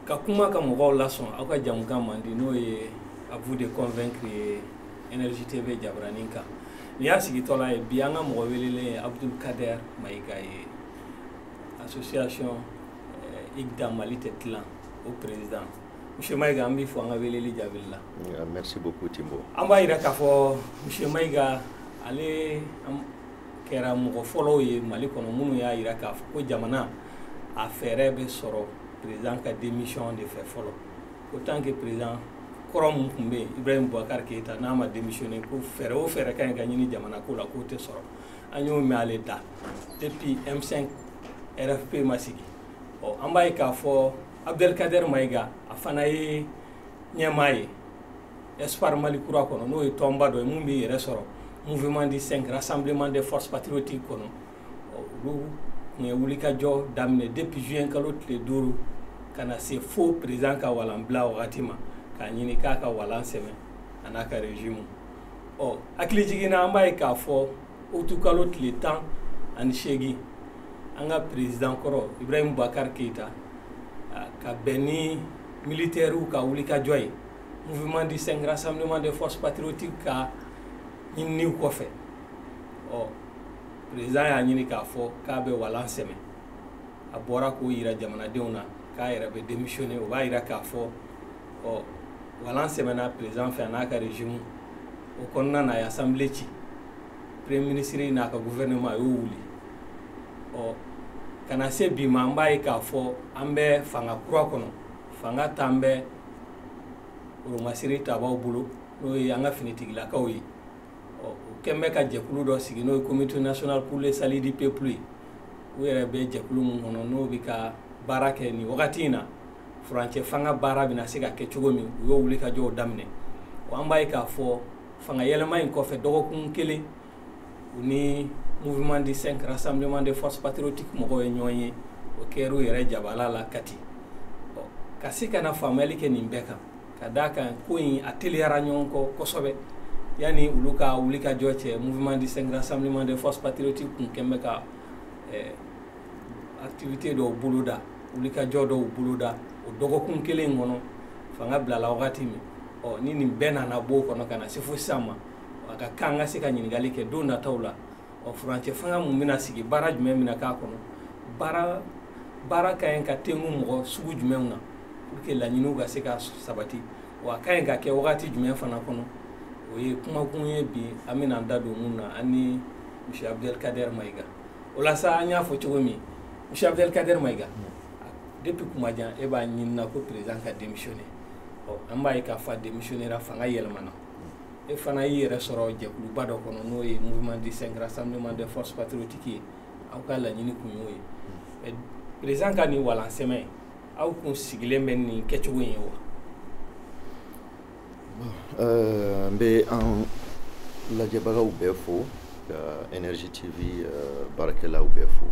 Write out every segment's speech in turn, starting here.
ka kuma ka mɔgɔw lasɔn aw ka jamukan mandi n'o ye à vous de convaincre ye énergie tv jabaranin kan nin y'a sigitɔla ye bi an ka mɔgɔ welelen ye abdul kader mayiga ye association eh, igda mali tɛ tilan o président monsieur mayiga an b'i fo an ka weleli jaabili la merci beaucoup timbo an b'a yira k'a fɔ monsieur mayiga ale kɛra mɔgɔ fɔlɔw ye mali kɔnɔ minnu y'a yira k'a fɔ ko jamana a fɛɛrɛ bɛ sɔrɔ président ka démission de fɛ fɔlɔ ko tant que président kɔrɔ min tun bɛ yen ibrahim bubakar keyita n'a ma démissionner ko fɛɛrɛ o fɛɛrɛ ka ɲi ka ɲini jamana ko la k'o tɛ sɔrɔ an y'o mɛn ale da depuis m5 rfp ma sigi ɔ an b'a ye k'a fɔ abdelkader mayiga a fana ye ɲɛmaa ye espoir mali kura kɔnɔ n'o ye tɔnba dɔ ye mun b'i yɛrɛ sɔrɔ mouvement du cinq rassemblement des forces patriotiques kɔnɔ olu tun ye wulikajɔ daminɛ depuis juin kalo tile duuru ka na se fo président ka walanbila wagati ma k'a ɲini k'a ka walan sɛmɛ a n'a ka régime ɔ hakilijigin na an b'a ye k'a fɔ utu kalo tile tan ani seegin an ka président kɔrɔ ibrahim bubakar keyita ka bɛn ni militɛriw ka wulikajɔ ye mouvement du cinq rassemblement des forces patriotiques ka ɲininiw kɔfɛ ɔ président y'a ɲini k'a fɔ k'a bɛ walan sɛmɛ a bɔra k'o yira jamanadenw na k'a yɛrɛ bɛ démissionner o b'a yira k'a fɔ ɔ walan sɛmɛna président fɛ a n'a ka régime o kɔnɔna na a ye assemblée ci premier ministre n'a ka gouvernement a y'o wuli ɔ ka na se bi ma an b'a ye k'a fɔ an bɛ fanga kura kɔnɔ fanga tan bɛ oromasiri tabaw bolo n'o ye an ka finitigilakaw ye ɔ u kɛn bɛ ka jɛkulu dɔ sigi n'o ye comité national pour le salut du peuple ye u yɛrɛ bɛ jɛkulu min kɔnɔ n'o bɛ ka baara kɛ nin wagati in na furancɛ fanga baara bɛna se ka kɛ cogo min u y'o wulikajɔw daminɛ wa an b'a ye k'a fɔ fanga yɛlɛma in kɔfɛ dɔgɔkun kelen u ni mouvement du cinq rassemblement des forces patriotiques mɔgɔw ye ɲɔgɔn ye o kɛra u yɛrɛ jabala la kati ka se ka na faamuyali kɛ nin bɛɛ kan ka d'a kan ko in a teliyara ɲɔgɔn kɔ kosɛbɛ yanni olu ka wulikajɔ cɛ mouvement du cinq rassemblement des forces patriotiques kun kɛn bɛ ka eh, activité dɔw boloda wulikajɔ dɔw boloda o dɔgɔkun kelen kɔnɔ fanga bilala wagati min ɔ ni nin bɛɛ nana b'o kɔnɔ ka na se fo sisan ma a ka kan ka se ka ɲininkali kɛ don nataw la ɔ furancɛ fanga mun bɛna sigi baara jumɛn bɛna k'a kɔnɔ baara ka ɲi ka tengu mɔgɔ sugu jumɛnw na pour que laɲiniw ka se ka sabati wa a ka ɲi ka kɛ wagati jumɛn fana kɔnɔ o ye kumakun ye bi an bɛna an da don mun na an ni monsieur abdelkader maïga o la sa an y'a fɔ cogo min monsieur abdelkader maïga depuis kuma jan e b'a ɲinina ko président ka démissionner ɔ an b'a ye k'a fɔ a démissionnera fanga yɛlɛmana e fana y'i yɛrɛ sɔrɔ jɛkuluba dɔ kɔnɔ n'o ye mouvement du 5 juin rassemblement des forces patriotiques ye aw ka laɲini kun y'o ye président ka nin walan sɛmɛ aw kun sigilen bɛ nin kɛcogo in ye wa n bɛ an lajɛbagaw bɛɛ fo ka énergie tv euh, baarakɛlaw bɛɛ fo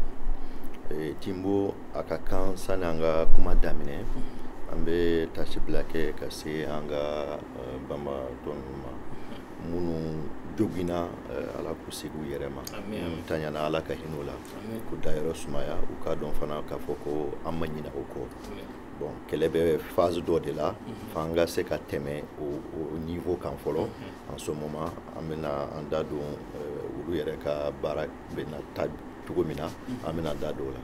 eh, timbo a ka kan sani an ka kuma daminɛ an bɛ tasibila kɛ ka se an ka banbaatɔ ninnu ma minnu joginna ala k'u segin u yɛrɛ ma minnu taɲana ala ka hinɛ u la k'u dayɔrɔ sumaya u k'a dɔn fana k'a fɔ ko an ma ɲina u kɔ bon kɛlɛ bɛ phase dɔ de la f'an ka se ka tɛmɛ o niveau kan fɔlɔ en ce moment an bɛna an da don olu yɛrɛ ka baara bɛna taa cogo min na an bɛna da don o la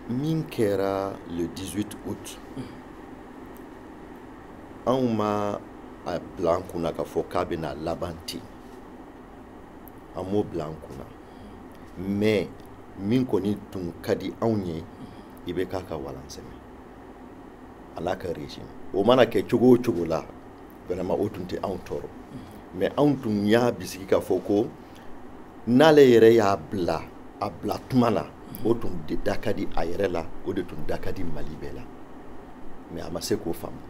min kɛra le 18 août anw ma a bila an kunna k'a fɔ k'a bɛna laban ten an m'o bila an kunna mais min kɔni tun ka di anw ye ibk ka walan sɛmɛ a n'a ka régime o mana kɛ cogo o cogo la vraiment o tun tɛ anw tɔɔrɔ mais anw tun y'a bisigi k'a fɔ ko n'ale yɛrɛ y'a bila a bila tuma na o tun da ka di a yɛrɛ la o de tun da ka di mali bɛɛ la mais a ma se k'o faamu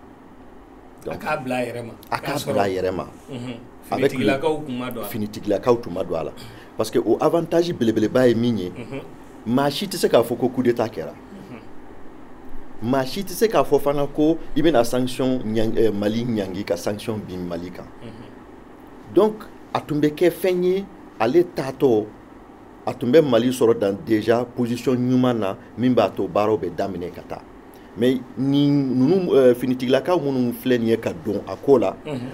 a k'a bila a yɛrɛ ma a k'a bila a yɛrɛ ma finitigilakaw tun ma don a la parce que o avantage belebeleba ye min ye maa si tɛ se k'a fɔ ko coup d'état kɛra maa si tɛ se k'a fɔ fana ko i bɛna sanction mali ɲangi ka sanction bin mali kan donc a tun bɛ kɛ fɛn ye ale taatɔ a tun bɛ mali sɔrɔ dans déjà position ɲuman na min b'a to baaraw bɛ daminɛ ka taa mais ni ninnu euh, finitigilakaw minnu filɛ nin ye ka don a ko la mhm.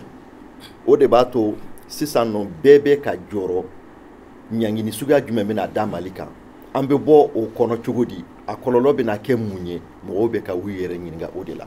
o de b'a to sisan nɔ bɛɛ bɛ ka jɔrɔ ɲangini suguya jumɛn bɛna da mali kan an bɛ bɔ o kɔnɔ cogo di a kɔlɔlɔ bɛna kɛ mun ye mɔgɔw bɛ ka u yɛrɛ ɲininka o de la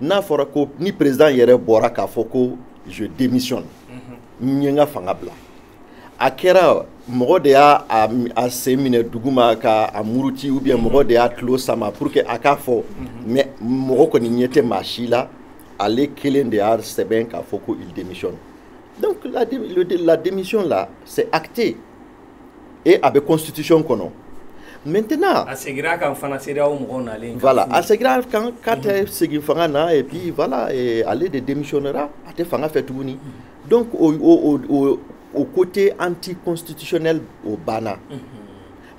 n'a fɔra ko ni président yɛrɛ bɔra k'a fɔ ko je démissionne n ye n ka fanga bila a kɛra mɔgɔ de y'a sen minɛ duguma k'a muruti ou bien mɔgɔ de y'a tulo sama pour que a k'a fɔ mais mɔgɔ kɔni ɲɛ tɛ maa si la ale kelen de y'a sɛbɛn k'a fɔ ko il démissionne donc la, la démission là c'est acté et a bɛ constitution kɔnɔ maintenant a segira a kan fana CEDEAO mɔgɔw nalen voilà a segira a kan k'a tɛ segin fanga na et puis voilà ale de démissionnera a tɛ fanga fɛ tuguni donc o o o o côté anticonstitutionnel o banna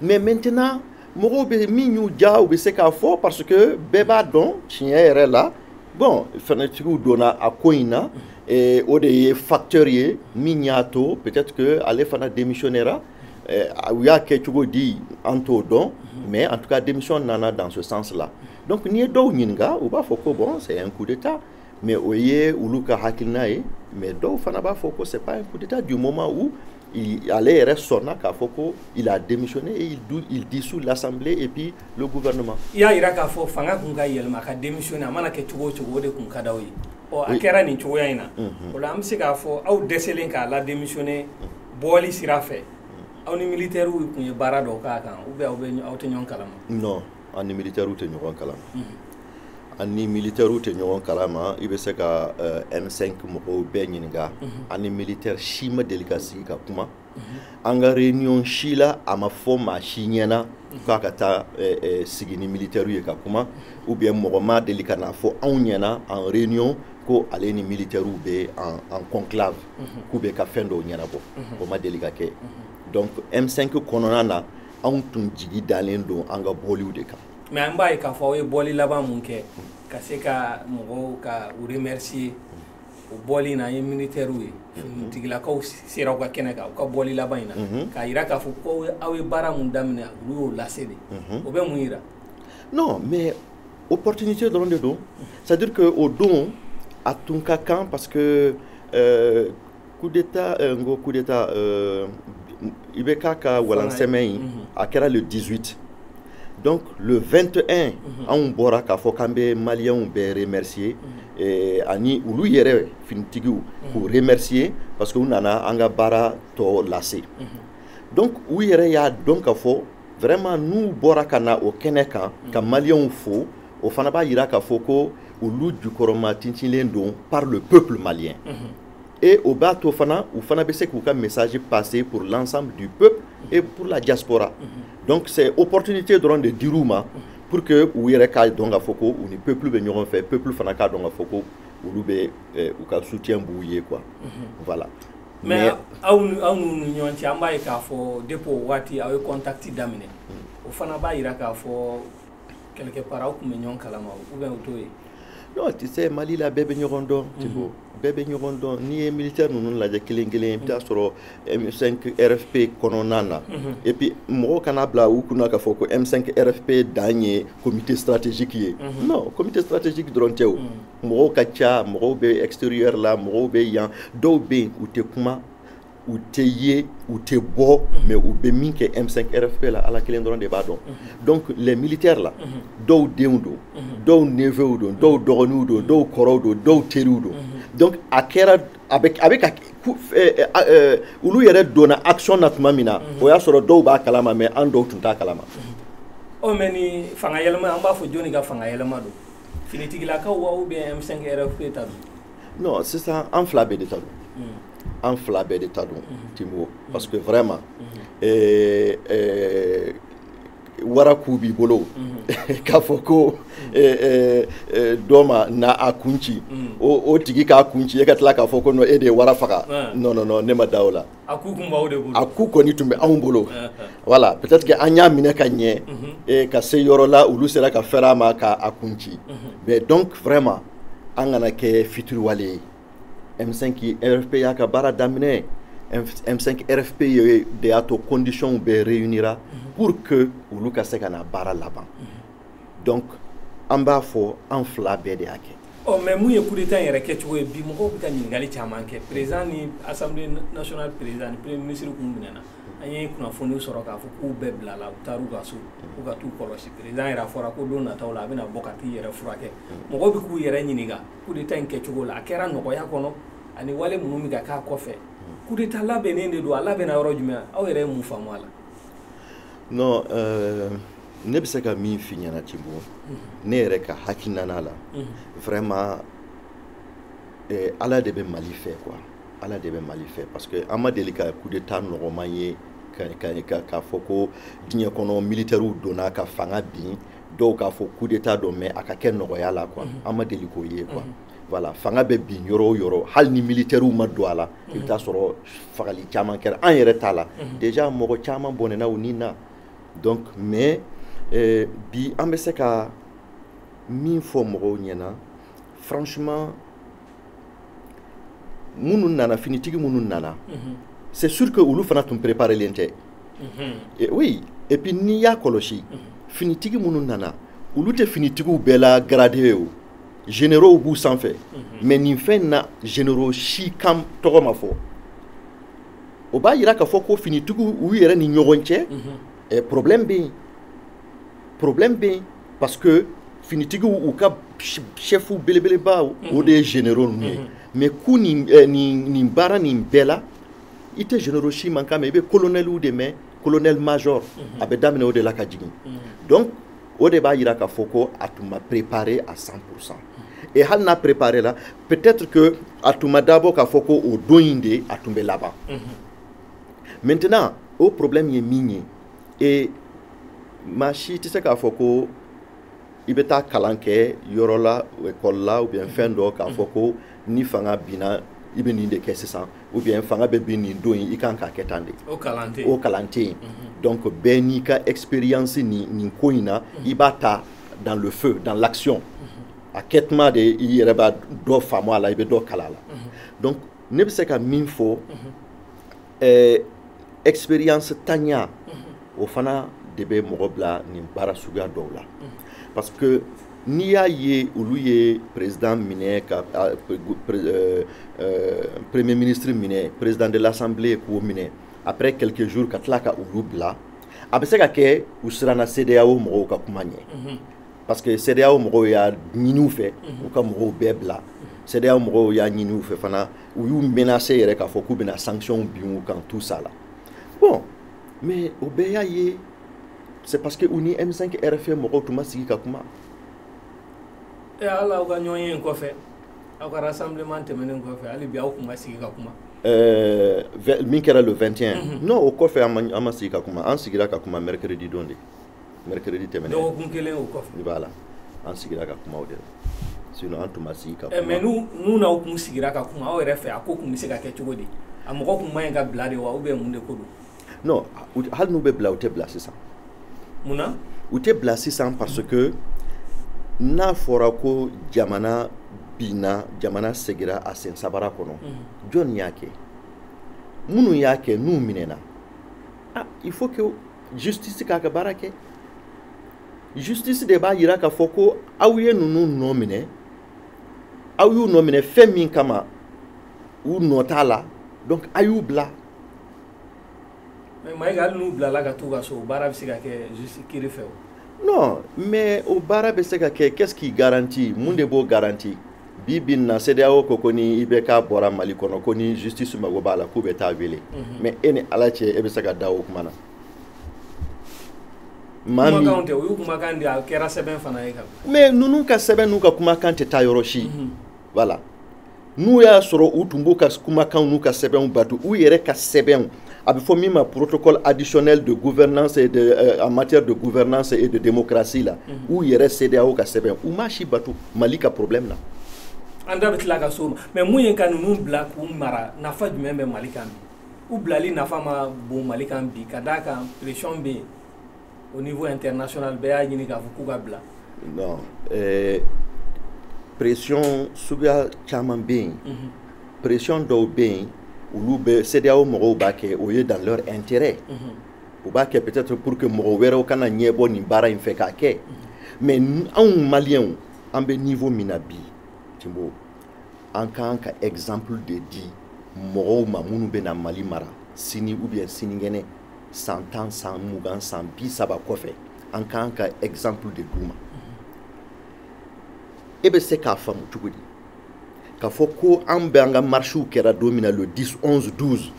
mais maintenant mɔgɔw bɛ min y'u diya u bɛ se k'a fɔ parce que bɛɛ b'a dɔn tiɲɛ yɛrɛ la bon finitigiw donna a ko in na eh, o de ye facteur ye min y'a to peut-être que ale fana démissionnera eh, u y'a kɛ cogo di an t'o dɔn mais en tout cas démission nana dans ce sens là donc n'i ye dɔw ɲininka u b'a fɔ ko bon c'est un coup d'état mais o ye olu ka hakilina ye mais dɔw fana b'a fɔ ko c'est pas un coup d'état du moment où il, ale yɛrɛ sɔnna k'a fɔ ko il a démissionné et il, dou, il dissout l'assemblée et puis le gouvernement i y'a yira k'a fɔ fanga kun ka yɛlɛma a ka démissionné a mana kɛ cogo o cogo o de kun ka d'aw ye ɔ a kɛra nin cogoya in na o la an bɛ se k'a fɔ aw dɛsɛlen k'a ladémissionné bɔli sira fɛ aw ni militaires kun ye baara dɔw k'a kan ou bien aw bɛ aw tɛ ɲɔgɔn kalama non an ni militaires tɛ ɲɔgɔn kalama an ni militaires tɛ ɲɔgɔn kalama i bɛ se ka euh, M5 mɔgɔw bɛɛ ɲininka mhm. an ni militaire si ma deli ka sigi ka kuma mhm. an ka réunion si la a ma fɔ maa si ɲɛna mhm. k'a ka taa euh, euh, sigi ni militaires ye ka kuma ou bien mɔgɔ ma deli ka n'a fɔ anw ɲɛna en réunion ko ale ni militaires bɛ en, en conclave k'u bɛ ka fɛn dɔw ɲɛnabɔ o ma deli ka kɛ donc M5 kɔnɔna na anw tun jigi dalen don an ka bɔliw de kan mais an b'a ye k'a fɔ aw ye bɔli laban mun kɛ ka se ka mɔgɔw ka u remercier o bɔli in na an ye militaires ye finitigilakaw sera aw ka kɛnɛ kan u ka bɔli laban in na k'a yira k'a fɔ ko aw ye baara mun daminɛ olu y'o lase de o bɛ mun yira non mais opportunité dɔrɔn de don c'est à dire que o don a tun ka kan parce que euh, coup d'état eh, n ko coup d'état eh, IBK ka balancement in mhm. a kɛra le 18 donc le 21 mhm. anw bɔra k'a fɔ k'an bɛ maliyɛnw bɛɛ remercier mhm. eh, ani olu yɛrɛ finitigiw k'u remercier parce que u nana an ka baara tɔ lase donc u yɛrɛ y'a dɔn k'a fɔ vraiment n'u bɔra ka na o kɛnɛ kan ka maliyɛnw fo o fana b'a yira k'a fɔ ko olu jukɔrɔma tintinlen don par le peuple malien mm -hmm. et o b'a to fana u fana bɛ se k'u ka message passer pour l'ensemble du peuple et pour la diaspora mhm. donc c'est opportunité dɔrɔn de dir'u ma pour que u yɛrɛ k'a dɔn k'a fɔ ko u ni peuple bɛ ɲɔgɔn fɛ peuple fana k'a dɔn k'a fɔ ko olu bɛ eh, u ka soutien b'u ye quoi mhm. voilà mais aw aw ni ɲɔgɔn cɛ an b'a ye k'a fɔ depuis o waati aw ye contact daminɛ mm. o fana b'a yira k'a fɔ quelque part aw tun bɛ ɲɔgɔn kalama ou bien o t'o ye non tu sais mali la bɛɛ bɛ ɲɔgɔn dɔn mhm. tibo bɛɛ bɛ ɲɔgɔn dɔn n'i ye militaire ninnu lajɛ kelen kelen i bɛ taa mhm. sɔrɔ m5 rfp kɔnɔna na mhm. et puis mɔgɔw kana bila u kunna k'a fɔ ko m5 rfp dan ye comité stratégique ye non comité stratégique dɔrɔn tɛ o mɔgɔw ka ca mɔgɔw bɛ extérieur la mɔgɔw bɛ yan dɔw bɛ yen u tɛ kuma u tɛ ye u tɛ bɔ mais u bɛ min kɛ M5 RFP la ala kelen dɔrɔn de b'a dɔn donc les militaires la dɔw denw don dɔw neveux don dɔw dɔgɔninw don dɔw kɔrɔw don dɔw teriw don donc a kɛra a bɛ a bɛ ka olu yɛrɛ donna action na tuma min na o y'a sɔrɔ dɔw b'a kalama mais an dɔw tun t'a kalama ɔ mais ni fanga yɛlɛma an b'a fɔ jɔni ka fanga yɛlɛma don finitigilakaw wa ou bien M5 RFP ta don non sisan an fila bɛɛ de ta don an fila bɛɛ de ta don timo parce que vraiment eh, eh, wara ku b'i bolo mhm. k'a fɔ ko eh, eh, eh, dɔ mana a kun ci mhm. o tigi k'a kun ci e ka tila k'a fɔ ko non e de ye wara faga non non non ne ma da o la a ku kun b'aw de bolo a ku kɔni tun bɛ anw bolo voilà peut-être que an y'a minɛ ka ɲɛ eh, ka se yɔrɔ la olu sera ka fɛrɛ a ma ka a kun ci mais donc vraiment an kana kɛ fitiriwale ye M5 RFP y'a ka baara daminɛ M5 RFP ye de y'a to conditions bɛɛ réunira pour que olu ka se ka na baara laban donc an b'a fɔ an fila bɛɛ de y'a kɛ ɔ mais mun ye coup d'état in yɛrɛ kɛcogo ye bi mɔgɔw bɛ ka ɲininkali caman kɛ président ni assemblée nationale président ni premier ministre kun minɛna an ye kunnafoniw sɔrɔ k'a fɔ k'u bɛɛ bilala u taar'u ka so k'u ka t'u kɔlɔsi président yɛrɛ a fɔra ko don nataw la a bɛna bɔ ka t'i yɛrɛ furakɛ mɔgɔw bɛ k'u yɛrɛ ɲininka coup d'état in kɛcogo la a kɛra nɔgɔya kɔnɔ ani wale minnu bɛ ka k'a kɔfɛ coup d'état labɛnnen de don a labɛnna yɔrɔ jumɛn aw yɛrɛ ye mun faamu a la non euh... ne bɛ se ka min f'i ɲɛna tibo ne yɛrɛ ka hakilinana la vraiment eh, ala de bɛ mali fɛ quoi ala de bɛ mali fɛ parce que an ma deli ka coup d'état nɔgɔman ye k'a fɔ ko diɲɛ kɔnɔ militɛriw donna ka fanga bin dɔw k'a fɔ coup d'état don mais a ka kɛ nɔgɔya la quoi an ma deli k'o ye quoi voilà fanga bɛ bin yɔrɔ o yɔrɔ hali ni militɛriw ma don a la i bɛ taa sɔrɔ fagali caman kɛra an yɛrɛ ta la déjà mɔgɔ caman bɔnɛna u ni na donc mais euh, bi an bɛ se ka min fɔ mɔgɔw ɲɛna franchement minnu nana finitigi minnu nana mhm. c'est sûr que olu fana tun préparelen tɛ mhm. oui et puis n'i y'a kɔlɔsi mhm. finitigi minnu nana olu tɛ finitigiw bɛɛ la gradé ye o généraux b'u sanfɛ mais nin fɛn in na généraux si kan tɔgɔ ma fɔ o b'a yira k'a fɔ ko finitigiw u yɛrɛ ni ɲɔgɔn cɛ eh, problème bɛ yen problème bɛ yen parce que finitigiw u ka chef belebeleba o de ye généraux ninnu ye mais k'u nin eh, nin nin baara nin bɛɛ la i tɛ généraux si mankan mɛn i bɛ colonelw de mɛn colonel major a bɛ daminɛ o de la ka jigin donc o de b'a yira k'a fɔ ko a tun ma préparer à 100 pour cent et hali n'a préparela peut-être que a tun ma dabɔ k'a fɔ ko o don in de a tun bɛ laban maintenant o problème ye min ye et maa si tɛ se k'a fɔ ko i bɛ taa kalan kɛ yɔrɔ la école la ou bien fɛn dɔ k'a fɔ ko ni fanga binna i bɛ nin de kɛ sisan ou bien fanga bɛ bin nin don in i kan k'a kɛ tan de o kalan tɛ yen o kalan tɛ yen mhm. donc bɛɛ n'i ka expérience nin nin ko in na mhm. i b'a ta dans le feu dans l'action mhm. a kɛtuma de i yɛrɛ b'a dɔ faamu a la i bɛ dɔ kalan a la donc ne bɛ se ka min fɔ ɛɛ expérience tanya o fana de bɛ mɔgɔ bila nin baara suguya dɔw la parce que n'i y'a ye olu ye président minɛ ka premier ministre minɛ président de l'assemblée k'o minɛ après quelques jours ka tila ka olu bila a bɛ se ka kɛ u siranna CEDEAO mɔgɔw ka kuma ɲɛ parce que CEDEAO mɔgɔw y'a ɲini u fɛ u ka mɔgɔw bɛɛ bila CEDEAO mɔgɔw y'a ɲini u fɛ fana u y'u menacer yɛrɛ k'a fɔ k'u bɛna sanctions bin u kan tout ça la bon mais o bɛɛ y'a ye c'est parce que u ni M5 RFI mɔgɔw tun ma sigi ka kuma yala aw ka ɲɔgɔnye in kɔfɛ aw ka rassemblement tɛmɛnen kɔfɛ hali bi aw tun ma sigi ka kuma euh, min kɛra le 21 mm -hmm. non o kɔfɛ an ma sigi ka kuma an sigira ka kuma mercredi don de mercredi tɛmɛnen dɔgɔkun kelen o kɔfɛ i b'a la an sigira ka kuma o de la sinon an tun ma sigi ka eh, kuma mais n'u n'u n'aw kun sigira ka kuma aw yɛrɛ fɛ a ko kun bɛ se ka kɛ cogo di a mɔgɔ kun man ɲi ka bila de wa ou bien mun de ko don non hali n'u bɛ bila u tɛ bila sisan mun na u tɛ bila sisan parce que n'a fɔra ko jamana binna jamana segira a sen sabara kɔnɔ mhm. jɔni y'a kɛ minnu y'a kɛ n'u minɛna ah, il faut que justice k'a ka baara kɛ justice de b'a jira k'a fɔ ko aw ye ninnu nɔ minɛ aw y'u nɔ minɛ fɛn min kama u nɔ t'a la donc a y'u bila mais Mayiga hali n'u bilala ka t'u ka so baara bɛ se ka kɛ justice kiri fɛ wa non mais o baara bɛ se ka kɛ qu'est-ce qui garantit mun de b'o garanti bi bi na CEDEAO ko ko ni IBK bɔra Mali kɔnɔ ko ni justice mago b'a la k'u bɛ taa wele mhm. mais e ni Ala cɛ e bɛ se ka da o kuma na maa min kumakanw tɛ o y'u kumakan de a kɛra sɛbɛn fana ye ka mais ninnu ka sɛbɛn n'u ka kumakan tɛ taa yɔrɔ si mhm. voilà n'u y'a sɔrɔ u tun b'u ka kumakanw n'u ka sɛbɛnw bato u yɛrɛ ka sɛbɛnw a bɛ fɔ min ma protocole additionnel de gouvernance et de, euh, en matière de gouvernance et de démocratie la mhm. u yɛrɛ CEDEAO ka sɛbɛn u m'a si bato Mali ka problème na an da bɛ tila ka s'o ma mais mun ye ka ninnu bila k'u mara nafa jumɛn bɛ Mali kan bi u bilali nafa ma bon Mali kan bi ka d'a kan pression bɛ yen au niveau international bɛɛ y'a ɲini k'a fɔ k'u ka bila non pression suguya caman bɛ yen mhm. pression dɔw bɛ yen olu bɛ CEDEAO mɔgɔw b'a kɛ o ye dans leur intérêt mhm. u b'a kɛ peut-être pour que mɔgɔ wɛrɛw kana ɲɛbɔ nin baara in fɛ k'a kɛ mhm. mais anw maliyɛnw an bɛ niveau min na bi Timbo an ka kan ka exemple de di mɔgɔw ma minnu bɛ na Mali mara sini ou bien sinikɛnɛ san tan san mugan san bi saba kɔfɛ an ka kan ka exemple de d'u ma e bɛ se k'a faamu cogo di k'a fɔ ko an bɛ an ka marchew kɛra don min na le 10 11 12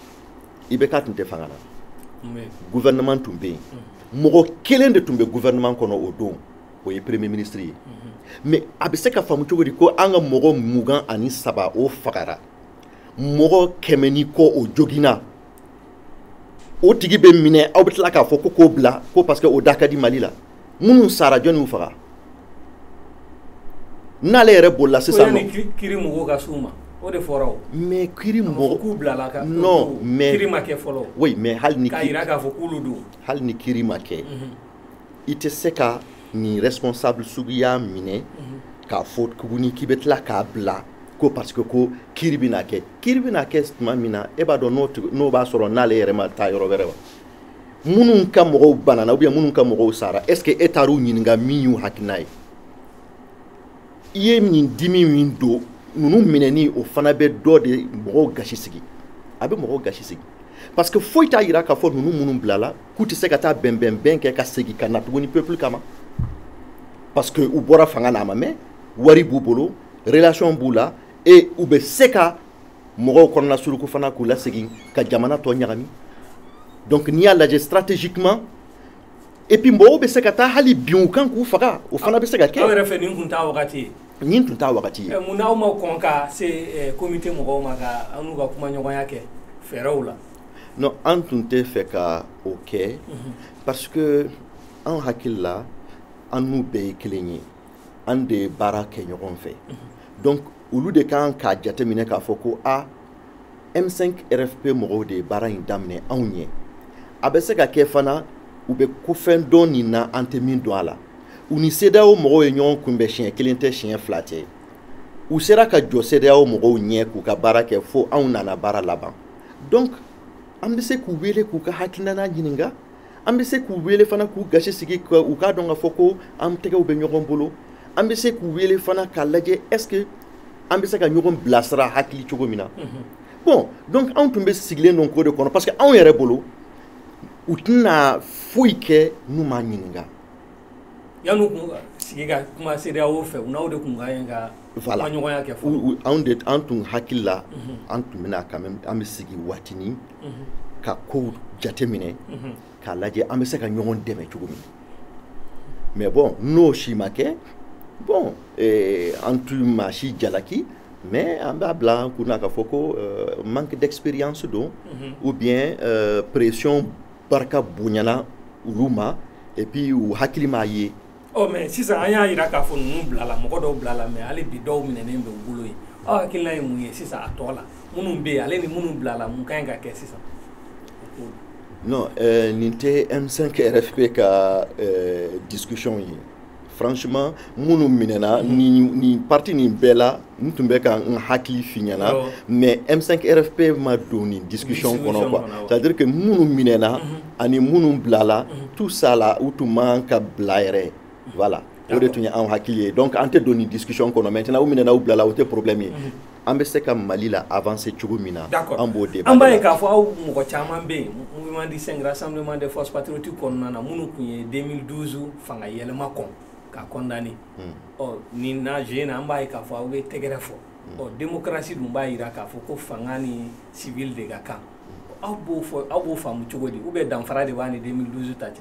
IBK tun tɛ fanga na gouvernement tun bɛ yen mm. mɔgɔ kelen de tun bɛ gouvernement kɔnɔ o don o ye premier ministre ye mm-hmm. mais a bɛ se ka faamu cogo di ko an ka mɔgɔ mugan ani saba o fagara mɔgɔ kɛmɛ ni kɔ o joginna o tigi bɛ minɛ aw bɛ tila k'a fɔ ko k'o bila ko parce que o da ka di Mali la minnu sara jɔni y'u faga n'ale yɛrɛ bolila sisan non kiri mɔgɔw ka s'u ma o de fɔra o mais kiri mɔgɔ k'u bilala ka non mais kiri ma kɛ fɔlɔ oui mais hali ni k'a jira k'a fɔ k'olu don hali ni kiri ma kɛ mhm. i tɛ se ka nin responsable suguya minɛ mhm. k'a fɔ tuguni k'i bɛ tila k'a bila ko parce que ko kiri bɛna kɛ kiri bɛna kɛ tuma min na e b'a dɔn n'o b'a sɔrɔ n'ale yɛrɛ ma taa yɔrɔ wɛrɛ wa minnu ka mɔgɔw banana ou bien minnu ka mɔgɔw sara est ce que e taar'u ɲininka min y'u hakilina ye i ye nin dimi min don ninnu minɛni o fana bɛ dɔ de mɔgɔw gasi sigi a bɛ mɔgɔw gasi sigi parce que foyi t'a jira k'a fɔ ninnu minnu bilala k'u tɛ se ka taa bɛnbɛnbɛn kɛ ka segin ka na tuguni peuple kama parce que u bɔra fanga na a ma mɛn wari b'u bolo relation b'u la et u bɛ se ka mɔgɔw kɔnɔna suruku fana k'u lasegin ka jamana tɔ ɲagami donc n'i y'a lajɛ stratégiquement et puis mɔgɔw bɛ se ka taa hali bin u kan k'u faga o fana bɛ se ka kɛ. aw yɛrɛ fɛ nin tun t'a wagati ye. nin tun t'a wagati ye. mun n'aw ma kɔn ka se comité mɔgɔw ma ka an n'u ka kumaɲɔgɔnya kɛ fɛɛrɛw la. non an tun tɛ fɛ ka o kɛ mhm. parce que an hakili la an n'u bɛɛ ye kelen ye an de ye baara kɛ ɲɔgɔn fɛ mhm. donc olu de kan k'a jateminɛ k'a fɔ ko a ah, m5 rfp mɔgɔw de ye baara in daminɛ anw ɲɛ a bɛ se ka kɛ fana u bɛ ko fɛn dɔn nin na an tɛ min dɔn a la u ni CEDEAO mɔgɔw ye ɲɔgɔn kunbɛn siɲɛ kelen tɛ siɲɛ fila tɛ u sera ka jɔ CEDEAO mɔgɔw ɲɛ k'u ka baara kɛ fo anw nana baara laban donc an bɛ se k'u wele k'u ka hakilina ɲininka an bɛ se k'u wele fana k'u gasi sigi ka u k'a dɔn k'a fɔ ko an tɛgɛw bɛ ɲɔgɔn bolo an bɛ se k'u wele fana k'a lajɛ est ce que an bɛ se ka ɲɔgɔn bilasira hakili cogo min na mhm. bon donc anw tun bɛ sigilen don ko de kɔnɔ parce que anw yɛrɛ bolo u tɛna foyi kɛ n'u m'a ɲininka yan'u tun sigi ka kuma CEDEAO fɛ u n'aw de tun ka ɲi ka kumaɲɔgɔnya kɛ fɔlɔ an tun hakili la mhm. an tun bɛna quand même an bɛ sigi waatinin mhm. ka kow jateminɛ mhm. k'a lajɛ an bɛ se ka ɲɔgɔn dɛmɛ cogo min mais bon n'o si ma kɛ bon eh, an tun maa si jalaki mais an b'a bila an kun na k'a fɔ ko eh, manque d'expérience don ou bien eh, pression barika bonyana olu ma et puis u hakili m'a ye ɔ mais sisan an y'a yira k'a fɔ ninnu bilala mɔgɔ dɔw bilala mais hali bi dɔw minɛnen bɛ u bolo yen aw hakilina ye mun ye sisan a tɔ la minnu bɛ yen ale ni minnu bilala mun ka ɲi ka kɛ sisan non euh, nin tɛ m5 rfp ka euh, discussion ye franchement minnu minɛna nin partie nin bɛɛ la n tun bɛ ka n hakili f'i ɲɛ na mais M5 RFP ma don nin discussion kɔnɔ quoi c'est à dire que minnu minɛna mhm. ani minnu bilala mhm. tout ça la u tun man ka bila yɛrɛ voilà o de tun ye anw hakili ye donc an tɛ don nin discussion kɔnɔ maintenant u minɛna u bilala o tɛ problème ye mhm. an bɛ se ka Mali la avancer cogo min na an b'o de an b'a ye k'a fɔ aw mɔgɔ caman bɛ yen Mouvement du 5 juin Rassemblement des forces patriotiques kɔnɔna na minnu tun ye 2012 fanga yɛlɛma kɔn k'a condamner ɔ ni nazo in na an b'a ye k'a fɔ aw bɛ tɛgɛrɛ fɔ ɔ démocratie dun b'a yira k'a fɔ ko fanga ni civil de ka kan aw b'o fɔ aw b'o faamu cogo di ou bien danfara de b'a ni 2012 ta cɛ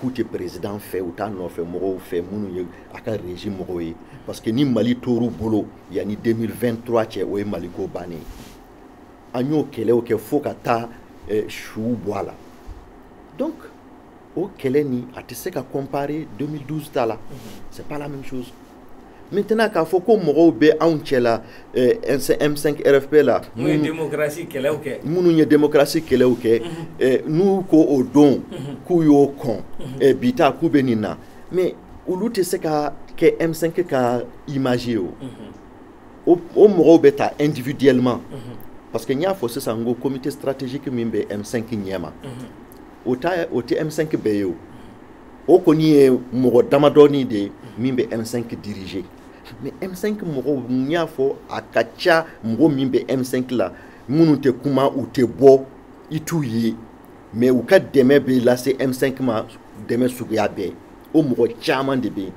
k'u tɛ perezidan fɛ u t'a nɔfɛ mɔgɔw fɛ minnu ye a ka régime mɔgɔw ye parce que ni mali tor'u bolo yanni 2023 cɛ o ye mali ko bannen ye an y'o kɛlɛw kɛ fo ka taa eh, suw bɔ a la donc o kɛlɛ nin a tɛ se ka comparer 2012 ta la c'est pas la même chose maintenant k'a fɔ ko mɔgɔw bɛ anw cɛ la eh, m5 rfp la minnu ye demokarasi kɛlɛw kɛ minnu ye demokarasi kɛlɛw kɛ mhm. eh, n'u ko o don mhm. k'u y'o kɔn mhm. eh, bi ta k'u bɛ nin na mais olu tɛ se ka kɛ m5 ka image ye o o mɔgɔw bɛ ta individuellement parce que n y'a fɔ sisan n ko comité stratégique min bɛ m5 ɲɛma o tɛ m5 bɛɛ ye o o kɔni ye mɔgɔ damadɔɔni de ye min bɛ m5 diriger mais m5 mɔgɔw n y'a fɔ a ka ca mɔgɔ min bɛ m5 la minnu tɛ kuma u tɛ bɔ i t'u ye mais u ka dɛmɛ bɛ lase m5 ma dɛmɛ suguya bɛɛ o mɔgɔ caman de bɛ yen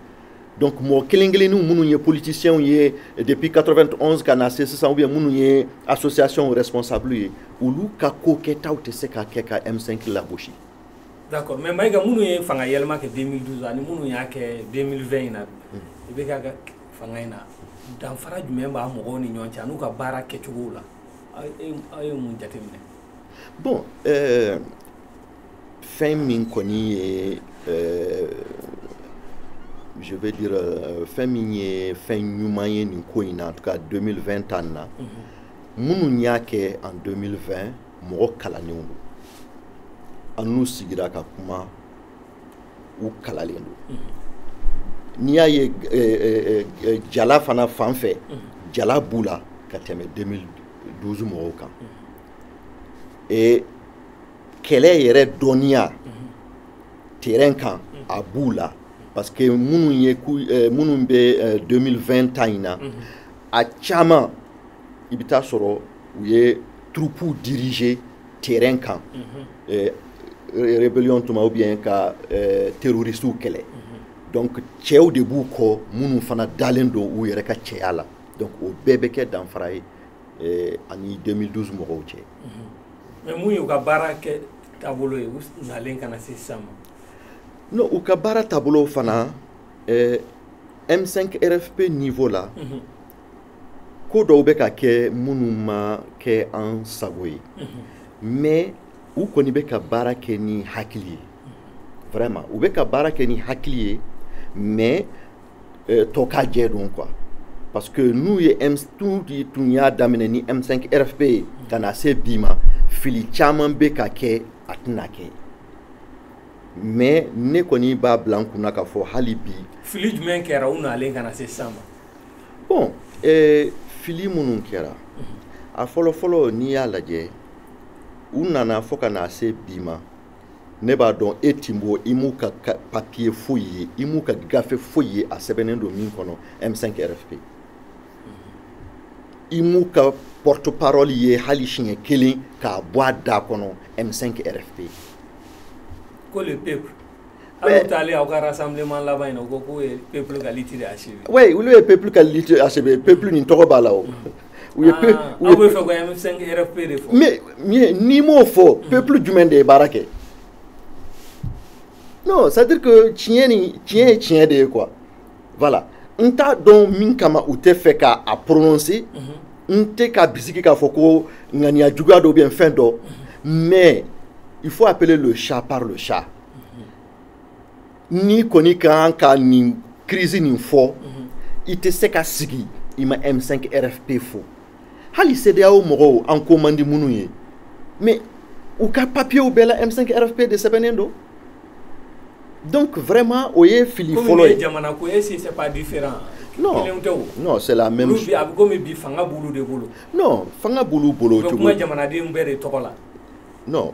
donc mɔgɔ kelen kelen ninnu minnu ye politicienw ye depuis 91 ka na se sisan ou bien minnu ye association responsable ye olu ka ko kɛtaw tɛ se ka kɛ ka m5 lagosi d'accord mais Maïga minnu ye fanga yɛlɛma kɛ 2012 ani minnu y'a kɛ 2020 in na ibk fanga in na danfara jumɛn b'a mɔgɔw ni ɲɔgɔn cɛ an'u ka baara kɛcogow la aw ye mun jateminɛ bon euh, fɛn min kɔni ye euh, je veux dire euh, fɛn min ye fɛn ɲuman ye nin ko in na en tout cas 2020 ta nin na minnu y'a kɛ en 2020 mɔgɔ kalannenw don an n'u sigira ka kuma u kalannen don mm-hmm. n'i y'a ye eh, eh, eh, jala fana fan fɛ mm-hmm. jala b'u la ka tɛmɛ 2012 mɔgɔw kan mm-hmm. kɛlɛ yɛrɛ dɔnniya terrain kan a b'u la parce que minnu ye minnu bɛ 2020 ta in na a caman i bɛ t'a sɔrɔ u ye turupuw diriger terrain kan eh, rébellion tuma ou bien ka eh, terroristiw kɛlɛ donc cɛw de b'u kɔ minnu fana dalen don u yɛrɛ ka cɛya la donc o bɛɛ bɛ kɛ danfara ye eh, ani 2012 mɔgɔw cɛ mais mun y'u ka baara kɛ taabolo ye u nalen ka na se sisan ma non u ka baara taabolo fana eh, m5 rfp niveau la ko dɔw bɛ ka kɛ minnu ma kɛ an sago ye mais u kɔni bɛ ka baara kɛ ni hakili ye vraiment u bɛ ka baara kɛ ni hakili ye mais euh, tɔ ka jɛ don quoi parce que n'u ye u tun y'a daminɛ ni M5 RFP ye ka na se bi ma fili caman bɛ ka kɛ a tɛna kɛ mais ne kɔni b'a bila n kunna k'a fɔ hali bi fili jumɛn kɛra u nalen ka na se sisan ma bon ee, fili minnu kɛra a fɔlɔfɔlɔ n'i y'a lajɛ u nana fo ka na se bi ma ne b'a dɔn e Timbo i m'u ka papiye foyi ye i m'u ka gafe foyi ye a sɛbɛnnen don min kɔnɔ m5 rfp i m'u ka porte parole ye hali siɲɛ kelen k'a bɔ a da kɔnɔ m5 rfp ko le peuple Aw taalen aw ka rassemblement laban in na u ko k'u ye peuple ka lutte de achever oui olu ye peuple ka lutte achever peuple nin tɔgɔ b'a la o u ye peu ah, aw b'a fɛ ka M5 RFP de fɔ mais n'i m'o fɔ peuple jumɛn de ye baara kɛ non c'est à dire que tiɲɛ ni tiɲɛ ye tiɲɛ de ye quoi voilà n t'a dɔn min kama u t'a fɛ k'a prononcer mhm. n tɛ k'a bisigi k'a fɔ ko ŋaniya juguya dɔ bɛ yen fɛn dɔ mhm. mais il faut appeler le chat par le chat n'i kɔni ka kan ka nin crise nin fɔ i tɛ se ka sigi i ma M5 RFP fɔ hali CEDEAO mɔgɔw an ko man di minnu ye mais u ka papiyew bɛɛ la M5 RFP de sɛbɛnnen don donc vraiment o ye fili fɔlɔ ye jamana ko est-ce que c'est pas différent non non c'est la même chose a bɛ komi bi fanga b'olu de bolo non fanga b'olu bolo cogo o bɛ kuma jamanadenw bɛɛ de tɔgɔ la non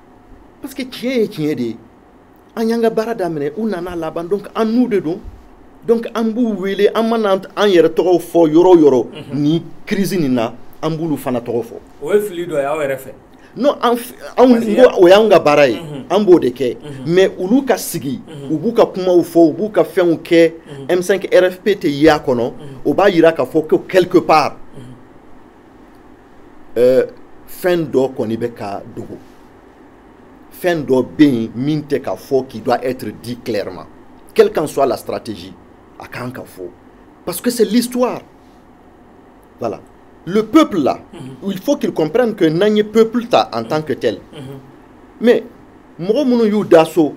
parce que tiɲɛ ye tiɲɛ de ye an y'an ka baara daminɛ u nana laban donc an n'u de don donc an b'u wele an mana an yɛrɛ tɔgɔw fɔ yɔrɔ o yɔrɔ mhm. nin crise nin na an b'olu fana tɔgɔ fɔ o ye fili dɔ ye aw yɛrɛ fɛ non an o y'an ka baara ye mhm. an b'o de kɛ mhm. mais olu ka sigi u b'u ka kumaw fɔ u b'u ka fɛnw kɛ M5 RFP tɛ ye a kɔnɔ o b'a jira k'a fɔ ko quelque part ɛɛ fɛn dɔ kɔni bɛ ka dogo fɛn dɔ bɛ yen min tɛ ka fɔ qui doit être dit clairement quelle qu'en soit la stratégie a kan ka fɔ parce que c'est l'histoire voilà le peuple là mm -hmm. il faut qu'il comprenne que n'an ye peuple ta en mm -hmm. tant que tel mm -hmm. mais mɔgɔ minnu y'u da so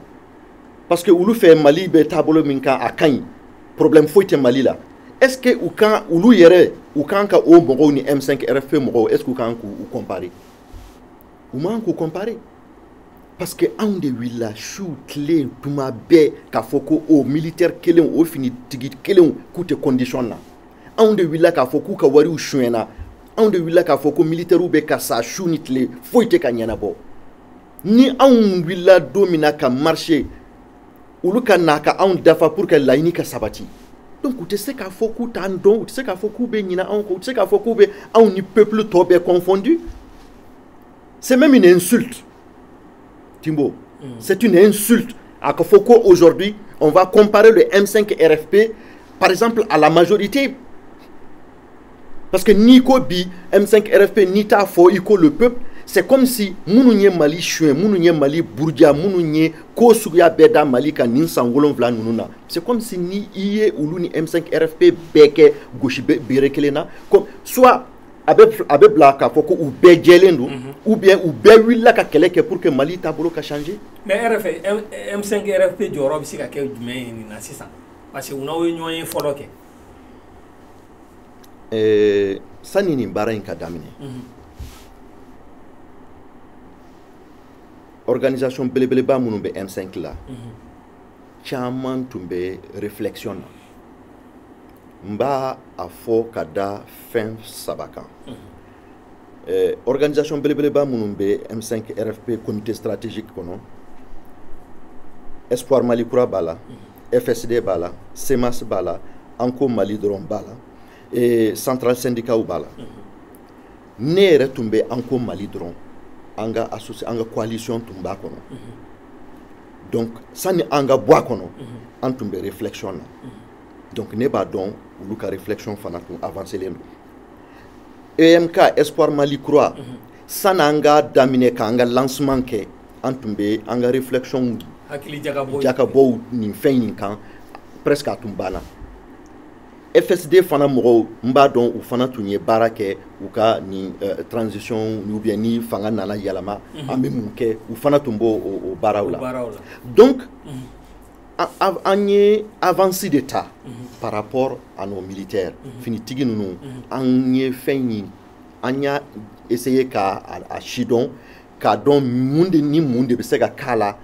parce que olu fɛ mali bɛ taabolo min kan a ka ɲi problème foyi tɛ mali la est ce que u kan olu yɛrɛ u kan ka o mɔgɔw ni m5 rfp mɔgɔw est ce que u kan k'u comparer u man k'u comparer parce que anw de wulila su tile tuma bɛɛ k'a fɔ ko o militaire kelenw o finitigi kelenw k'u tɛ condition na anw de wulila k'a fɔ k'u ka wariw sonyɛna anw de wulila k'a fɔ ko militairew bɛ ka sa su ni tile foyi tɛ ka ɲɛnabɔ ni anw wulila don min na ka marcher olu ka na ka anw dafa pour que laɲini ka sabati donc u tɛ se k'a fɔ k'u t'an dɔn u tɛ se k'a fɔ k'u bɛ ɲina anw kɔ u tɛ se k'a fɔ k'u bɛ anw ni peuple tɔ bɛɛ confondu c'est même une insulte Timbo mm. c'est une insulte a ka fɔ ko aujourd'hui on va comparer le M5 RFP par exemple à la majorité Parce que n'i ko bi M5 RFP n'i t'a fɔ i ko le peuple c'est comme si minnu ye Mali suɲɛ minnu ye Mali buruja minnu ye ko suguya bɛɛ da Mali kan nin san wolonwula ninnu na c'est comme si ni i ye olu ni M5 RFP bɛɛ kɛ gosi bere kelen na comme soit a bɛ a bɛ bila k'a fɔ ko u bɛɛ jɛlen don mhm. ou bien u bɛɛ wulila ka kɛlɛ kɛ pour que Mali taabolo ka changer. mais RFP M5 RFP jɔyɔrɔ bɛ se ka kɛ jumɛn ye nin na sisan parce que u n'aw ye ɲɔgɔn ye fɔlɔ kɛ. eh, sani nin baara in ka daminɛ mhm. organisation belebeleba minnu bɛ m5 la mhm. caman tun bɛ réflexion na n b'a a fɔ ka da fɛn saba kan mhm. eh, organisation belebeleba minnu bɛ m5 rfp comité stratégique kɔnɔ espoir mali kura b'a la mm -hmm. fsd b'a la cmas b'a la an ko mali dɔrɔn b'a la central syndicatw b'a la ne yɛrɛ tun bɛ an ko mali dɔrɔn an ka asosi an ka coalition tun b'a kɔnɔ donc sani an ka bɔ a kɔnɔ an tun bɛ réflexion na donc ne b'a dɔn olu ka réflexion fana tun avancelen don emk espoir mali kura sani an ka daminɛ k'an ka lancement kɛ an tun bɛ an ka réflexion jakabɔw nin fɛn in kan presque a tun banna FSD fana mɔgɔw n b'a dɔn u fana tun ye baara kɛ u ka nin euh, transition ou bien ni fanga nana yɛlɛma mhm. an bɛ mun kɛ u fana tun b'o o baaraw la donc mhm. an ye avance de ta mhm. par rapport à nos militaires finitigi ninnu an ye fɛn in an y'a essayer ka a sidɔn k'a dɔn mun de ni mun de bɛ se ka k'a la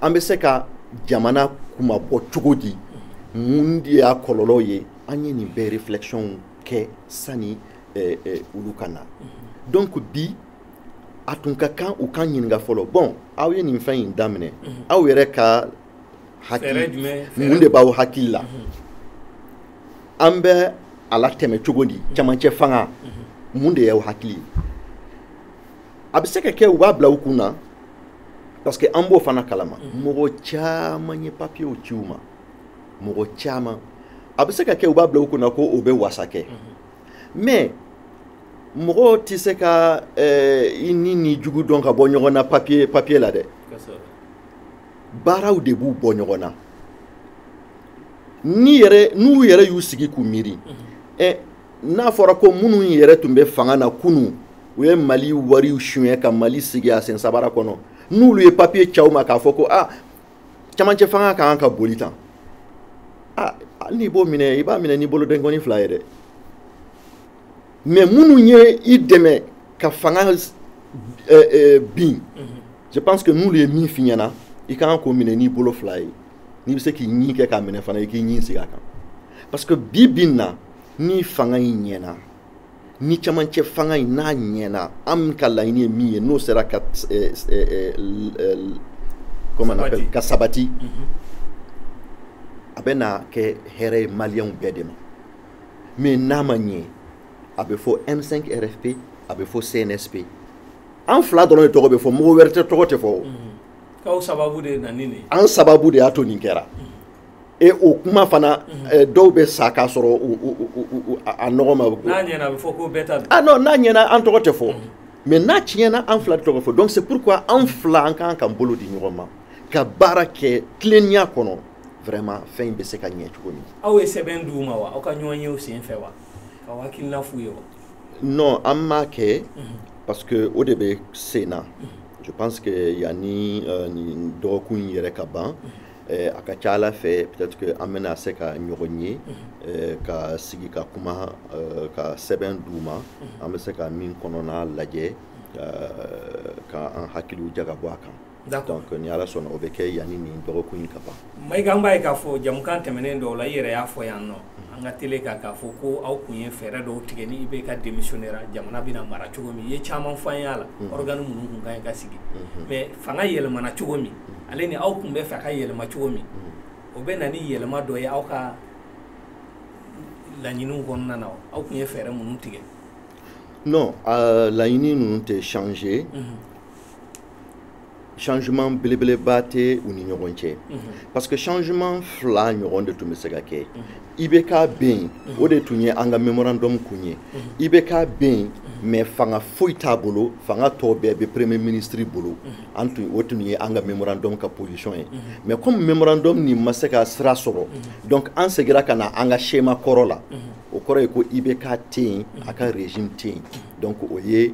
an bɛ se ka jamana kunmabɔ cogo di mun de y'a kɔlɔlɔw ye an ye nin bɛɛ réflexion kɛ sani eh, eh, olu ka na donc bi a tun ka kan u k'an ɲininka fɔlɔ bon aw ye nin fɛn in daminɛ aw yɛrɛ ka hakili mun de b'aw hakili la an bɛ a latɛmɛ cogo di camancɛ fanga mun de y'aw hakili ye a bɛ se ka kɛ u b'a bila u kun na parce que an b'o fana kalama mhm. mɔgɔ caman ye papiyew ci u ma mɔgɔ caman a bɛ se ka kɛ u b'a bila u kun na ko o bɛ wasa kɛ mhm. mais mɔgɔ tɛ se ka eh, i ɲin n'i jugu dɔn ka bɔ ɲɔgɔn na papiye papiye la dɛ baaraw de b'u bɔ ɲɔgɔn na ni yɛrɛ n'u yɛrɛ y'u sigi k'u miiri mhm. eh, n'a fɔra ko minnu yɛrɛ tun bɛ fanga na kunu u ye mali wariw suɲɛ ka mali sigi a sen sabara kɔnɔ n'olu ye papiye c'aw ma k'a fɔ ko a ah, camancɛ fanga ka kan ka boli tan ah, hali n'i b'o minɛ i b'a minɛ n'i bolo denkɔni fila ye dɛ mais minnu ye i dɛmɛ ka fanga eh, eh, bin mhm. je pense que n'olu ye min f'i ɲɛna i ka kan k'o minɛ n'i bolo fila ye n'i bɛ se k'i ɲin kɛ k'a minɛ fana i k'i ɲin sigi a kan parce que bi bi in na ni fanga in ɲɛna ni camancɛ fanga in n'a ɲɛna an ka laɲini ye min ye n'o sera ka eh, eh, eh, comment on appelle ka sabati mhm. a bɛ na kɛ hɛrɛ ye maliyɛnw bɛɛ de ma mais n'a ma ɲɛ a bɛ fɔ M5 RFP a bɛ fɔ CNSP an fila dɔrɔn de tɔgɔ bɛ fɔ mɔgɔ wɛrɛ tɛ tɔgɔ tɛ fɔ o mhm. k'aw sababu de nana ni nin ye an sababu de y'a to nin kɛra. Mhm. e o kuma fana dɔw bɛ sa k'a sɔrɔ a nɔgɔ ma n'a ɲɛna a bɛ fɔ ko bɛɛ ta don non n'a ɲɛna an tɔgɔ tɛ fɔ mais n'a tiɲɛna an fila tɔgɔ fɔ donc c'est pourquoi an fila an kan ka bolo di ɲɔgɔn ma ka baara kɛ tilennenya kɔnɔ vraiment fɛn in bɛ se ka ɲɛ cogo min aw ye sɛbɛn d'u ma wa aw ka ɲɔgɔn ye o sen fɛ wa k'aw hakilina f'u ye wa non an m'a kɛ parce que o de bɛ sen na je pense que yanni dɔgɔkun in yɛrɛ ka ban Eh, a ka ca ala fɛ peut-être que an bɛna se ka ɲɔgɔn ye eh, ka sigi ka kuma eh, ka sɛbɛn d'u ma an bɛ se ka min kɔnɔna lajɛ ka an hakiliw jagabɔ a kan donc ni ala sɔnna o bɛ kɛ yanni nin dɔgɔkun in ka ban mayiga an b'a ye k'a fɔ jamukan tɛmɛnen dɔw la i yɛrɛ y'a fɔ yan nɔ an ka télé kan k'a fɔ ko aw kun ye fɛɛrɛ dɔw tigɛ ni ibk démissionnera jamana bɛna mara cogo min i ye caman f'an y'a la organe minnu kun ka ɲi ka sigi mais fanga yɛlɛmana cogo min ale ni aw kun bɛ fɛ ka yɛlɛma cogo min o bɛ na ni yɛlɛma dɔ ye aw ka laɲiniw kɔnɔna na aw kun ye fɛɛrɛ minnu tigɛ non euh, laɲini ninnu tɛ changer changement belebeleba tɛ u ni ɲɔgɔn cɛ mhm. parce que changement fila ɲɔgɔn de tun bɛ se ka kɛ mhm. ibk bɛ yen mhm. o de tun ye an ka memorandum kun ye ibk bɛ yen mais fanga foyi t'a bolo fanga tɔ bɛɛ bɛ premier ministre bolo an tun o tun ye an ka memorandum ka position ye mais comme memorandum nin ma se ka sira sɔrɔ donc an segira ka na an ka schéma kɔrɔ la o kɔrɔ ye ko ibk tɛ yen a ka régime tɛ yen donc o ye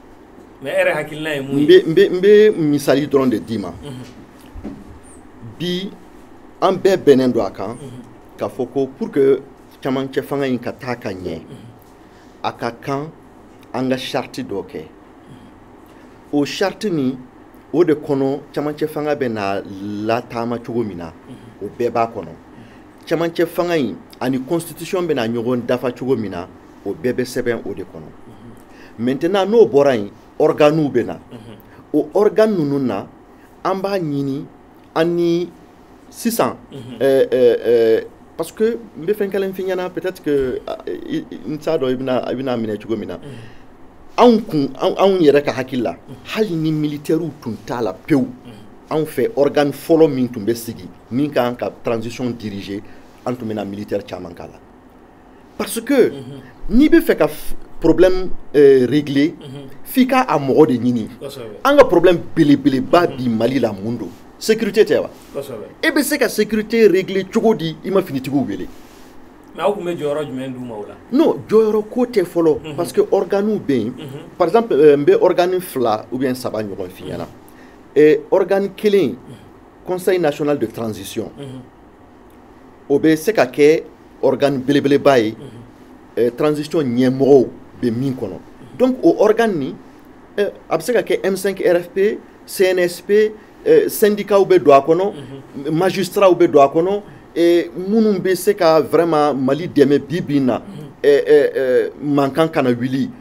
mais e yɛrɛ hakilina ye mun ye n bɛ misali dɔrɔn de d'i ma bi an bɛɛ bɛnnen don a kan k'a fɔ ko pour que camancɛ fanga in ka taa ka ɲɛ a ka kan an ka charte dɔ kɛ o charte nin o de kɔnɔ camancɛ fanga bɛna lataama cogo min na o bɛɛ b'a kɔnɔ camancɛ fanga in ani constitution bɛna ɲɔgɔn dafa cogo min na o bɛɛ bɛ sɛbɛn o de kɔnɔ maintenant n'o bɔra yen organew bɛ na o organe ninnu na an b'a ɲini an ni sisan ɛɛ ɛɛ parce que n bɛ fɛn kelen f'i ɲɛna peut-être que n t'a dɔn i bɛna i bɛna minɛ cogo min na anw kun anw yɛrɛ ka hakili la hali ni militaires tun t'a la pewu anw fɛ organe fɔlɔ min tun bɛ sigi min ka kan ka transition diriger an tun bɛna militaire caman k'a la. parce que n'i bɛ fɛ ka problème euh, régler f'i ka a mɔgɔ de ɲini an ka problème belebeleba bi mali la mun don sécurité tɛ wa e bɛ se ka sécurité régler cogo di i ma finitigiw wele mais aw kun bɛ jɔyɔrɔ jumɛn d'u ma o la non jɔyɔrɔ ko tɛ fɔlɔ mhm. parce que organew bɛ yen mhm. par exemple euh, n bɛ organe fila ou bien saba ɲɔgɔn f'i ɲɛna mhm. organe kelen conseil national de transition o bɛ se ka kɛ organe belebeleba ye eh, transition ɲɛmɔgɔw bɛ min kɔnɔ donc o organe nin eh, a bɛ se ka kɛ M5 RFP CNSP eh, syndicats bɛ don a kɔnɔ magistrats bɛ don a kɔnɔ minnu bɛ se ka vraiment Mali dɛmɛ bi bi in na mankan kana wuli.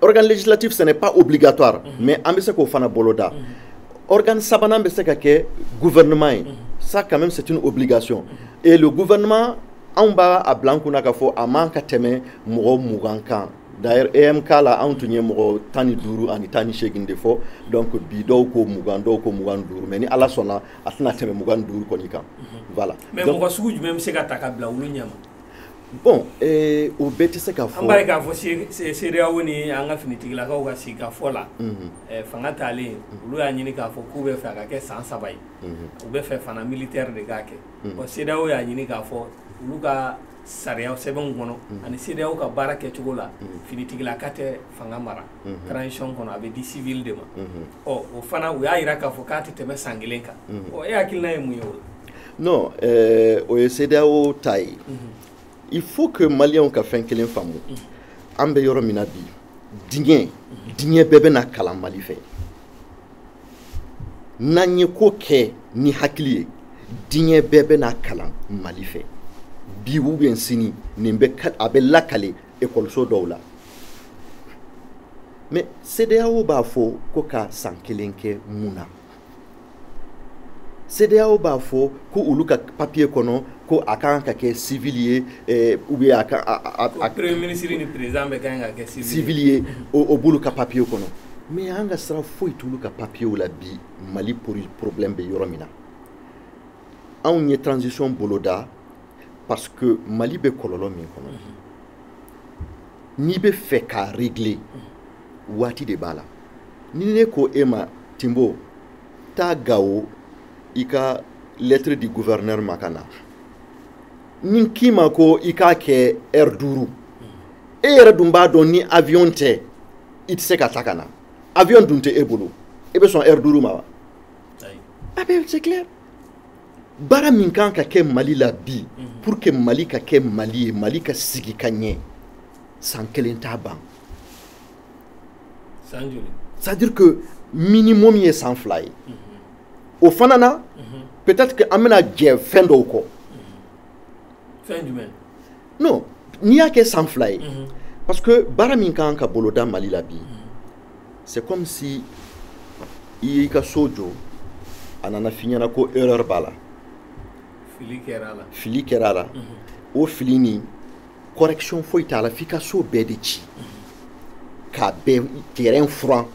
organe législatif ce n'est pas obligatoire mhm. mais an bɛ se k'o fana boloda mhm. organe sabanan bɛ se ka kɛ gouvernement ye mhm. ça quand même c'est une obligation et le gouvernement anw b'a bila an kunna k'a fɔ a man ka tɛmɛ mɔgɔ mugan kan d'ailleurs EMK la anw tun ye mɔgɔ tan ni duuru ani tan ni seegin de fɔ donc bi dɔw ko mugan dɔw ko mugan ni duuru mais ni ala sɔnna a tɛna tɛmɛ mugan ni duuru kɔni kan voilà mais mɔgɔ sugu jumɛn bɛ se ka ta ka bila olu ɲɛma bon eh, o bɛɛ tɛ se ka fɔ an b'a ye k'a fɔ CEDEAO ni an ka finitigilakaw ka sigikafɔ la mhm. eh, fanga talen mhm. olu y'a ɲini k'a fɔ k'u bɛ fɛ a ka kɛ san saba ye mhm. u bɛ fɛ fana militaire de k'a kɛ bon CEDEAO y'a ɲini k'a fɔ olu ka sariya sɛbɛnw kɔnɔ ani CEDEAO ka baara kɛcogo la finitigilaka tɛ fanga mara transition kɔnɔ a bɛ di civil de ma ɔ o fana u y'a jira k'a fɔ k'a tɛ tɛmɛ san kelen kan ɔ e hakilina ye mun ye o la non eh, o ye CEDEAO ta ye il faut que maliyɛnw ka fɛn kelen faamu an bɛ yɔrɔ min na bi diɲɛ diɲɛ bɛɛ bɛna kalan mali fɛ n'an ye ko kɛ ni hakili ye diɲɛ bɛɛ bɛna kalan mali fɛ bi ou bien sini nin bɛ a bɛ lakale ekɔliso dɔw la mais CEDEAO b'a fɔ ko ka san kelen kɛ mun na CEDEAO b'a fɔ ko olu ka papier kɔnɔ ko a ka kan ka kɛ civil ye eh, ou bien a ka a premier ministre ni président bɛɛ kan ka kɛ civil ye o b'olu ka papier kɔnɔ mais an ka sira foyi t'olu ka papier la bi Mali problème bɛ yɔrɔ min na anw ye transition boloda parce que Mali bɛ kɔlɔlɔ min kɔnɔ n'i bɛ fɛ k'a régler waati de b'a la ni ne ko e ma Timbo taa Gao i ka lettre di gouverneur ma ka na ne k'i ma ko i k'a kɛ heure duuru e yɛrɛ dun b'a dɔn ni avion tɛ i tɛ se ka taa ka na avion dun tɛ e bolo e bɛ sɔn heure duuru ma wa a bɛ c'est clair baara min kan ka kɛ mali la bi mhm. pour que mali ka kɛ mali ye mali ka sigi ka ɲɛ san kelen t'a ban c'est à dire que minimum ye san fila ye o fana na mhm. peut-être que an bɛna jɛ fɛn dɔw kɔ fɛn jumɛn non n'i y'a kɛ san fila ye mhm. parce que baara min ka kan ka boloda mali la bi mhm. c'est comme si i y'i ka so jɔ a nana f'i ɲɛna ko erreur b'a la fili kɛra a la fili kɛra a la o fili nin correction foyi t'a la f'i ka so bɛɛ de ci k'a bɛɛ terrain furan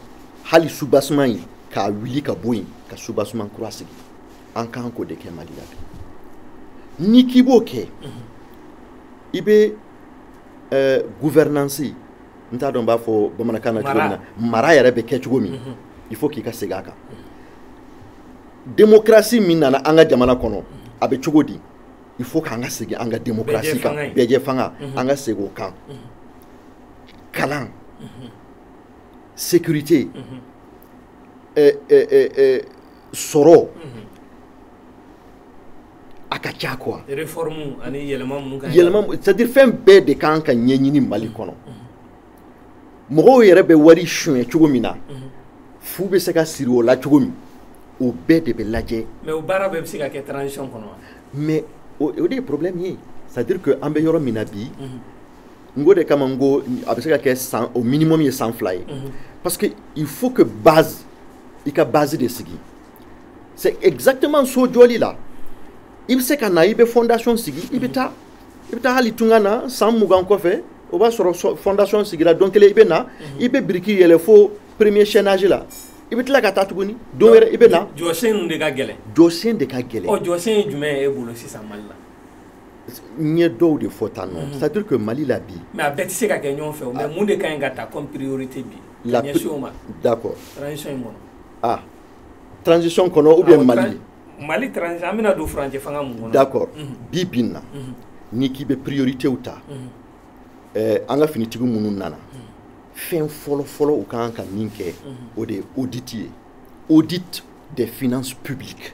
hali soubassement ye k'a wuli ka bɔ yen ka soubassement kura sigi an kan k'o de kɛ mali la bi n'i k'i b'o kɛ i bɛ eh, gouvernance n t'a dɔn n b'a fɔ bamanankan na cogo min na mara yɛrɛ bɛ kɛ cogo min mhm. il faut k'i ka segin a kan démocratie min nana an ka jamana kɔnɔ a bɛ cogo di il faut k'an ka segin an ka démocratie kan bɛɛjɛ fanga mhm. an ka segin o kan mhm. kalan mhm. sécurité eh, eh, eh, sɔrɔ a ka ca quoi réforme ani yɛlɛma minnu ka yɛlɛma c'est à dire fɛn bɛɛ de kan ka ɲɛɲini Mali kɔnɔ mɔgɔw yɛrɛ bɛ wari sunyɛ cogo min na mhm. fu bɛ se ka siri o la cogo min o bɛɛ de bɛ lajɛ mais o baara bɛɛ bɛ se ka kɛ transition kɔnɔ wa mais o de ye problème ye c'est à dire que an bɛ yɔrɔ min na bi mhm. n k'o de kama n ko a bɛ se ka kɛ san au minimum ye san fila ye mhm. parce que il faut que base i ka base de sigi c'est exactement so jɔli la i bɛ se ka na i bɛ fondation sigi i bɛ taa i bɛ taa hali tunga na san mugan kɔfɛ o b'a sɔrɔ fondation sigira don kelen i bɛ na mhm. i bɛ biriki yɛlɛ fo premier chaînage la i bɛ tila ka taa tuguni don wɛrɛ i bɛ na jɔsen de ka gɛlɛn jɔsen de ka gɛlɛn ɔ jɔsen ye jumɛn ye e bolo sisan mali la n ye dɔw de fɔ tan nɔ mhm. c'est à dire que mali la bi mais a bɛɛ tɛ se ka kɛ ɲɔgɔn fɛ o mais ah. mun de ka ɲi ka ta comme priorité bi ka ɲɛsin o ma d'accord transition in kɔnɔ ah transition kɔnɔ ou bien mali mali transition an bɛna don furancɛ fanga min kɔnɔ d'accord mhm. bi bi in na mhm. n'i k'i bɛ prioritéw ta mhm. eh, an ka finitigi minnu nana fɛn fɔlɔ fɔlɔ u kan ka min kɛ o de ye audit ye audit des finances publiques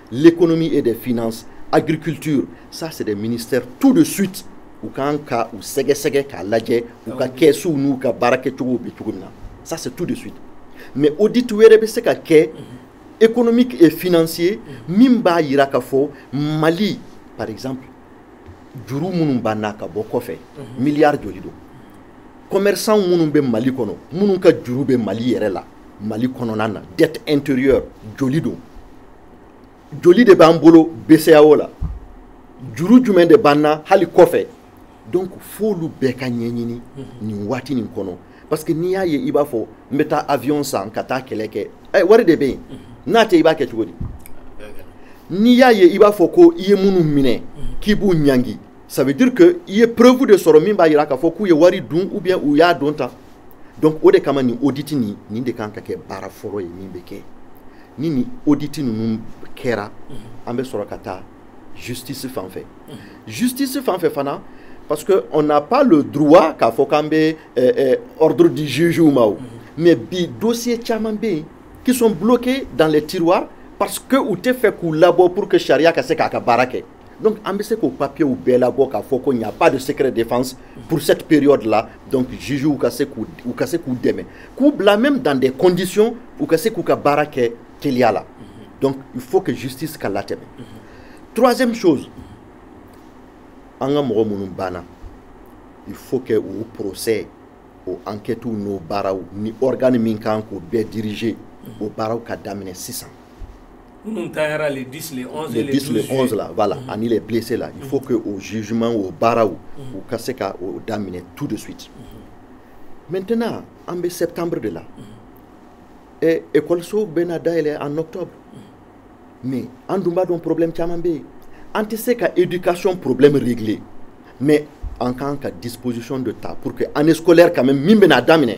l'économie et des finances agriculture ça c'est des ministères tout de suite u kan ka u sɛgɛsɛgɛ k'a lajɛ u ka kɛsuw n'u ka baara kɛcogow bɛ cogo min na ça c'est tout de suite mais audit wɛrɛ bɛ se ka kɛ économique et financier min b'a yira k'a fɔ mali par exemple juru minnu b'an na ka bɔ kɔfɛ mhm. milliard joli don commerçant minnu bɛ mali kɔnɔ minnu ka juru bɛ mali yɛrɛ la Mali kɔnɔna na dette intérieure joli don joli de b'an bolo BCEAO la juru jumɛn de b'an na hali kɔfɛ donc f'olu bɛɛ ka ɲɛɲini nin waati nin kɔnɔ parce que n'i y'a ye i b'a fɔ n bɛ taa avion san ka taa kɛlɛ kɛ ɛ wari de bɛ yen n'a tɛ i b'a kɛ cogo di n'i y'a ye i b'a fɔ ko i ye minnu minɛ k'i b'u ɲangi ça veut dire que i ye preuve de sɔrɔ min b'a jira k'a fɔ k'u ye wari dun ou bien u y'a don tan donc o de kama nin audit nin nin de kan ka kɛ baara fɔlɔ ye min bɛ kɛ ni nin audit ninnu kɛra an bɛ sɔrɔ ka taa justice fan fɛ justice fan fɛ fana parce que on n'a pas le droit k'a fɔ k'an bɛ euh, euh, ordre di juge ma o mais bi dossier caman bɛ yen qui sont bloqués dans les tiroirs parce que u tɛ fɛ k'u labɔ pour que sariya ka se k'a ka baara kɛ Donc an bɛ se k'o papiers bɛɛ labɔ k'a fɔ ko il n'y a pas de secret défense pour cette période là donc juges u ka se k'u dɛmɛ k'u bila même dans des conditions u ka se k'u ka baara kɛ teliya la donc il faut que justice ka latɛmɛ troisième chose an ka mɔgɔ minnu banna il faut que o procès o enquêtes n'o baaraw ni organe min kan k'o bɛɛ diriger o baaraw ka daminɛ sisan minnu taara le 10 le 11 le 10 le 11 la voilà mm -hmm. ani les blessés la il faut que o jugement o baaraw u ka se ka o daminɛ tout de suite maintenant an bɛ septembre de la et ekɔlisow bɛna dayɛlɛ en octobre mais an dun b'a dɔn problème caman bɛ yen an tɛ se ka éducation problème régler mais an kan ka disposition de ta pour que année scolaire quand même min bɛna daminɛ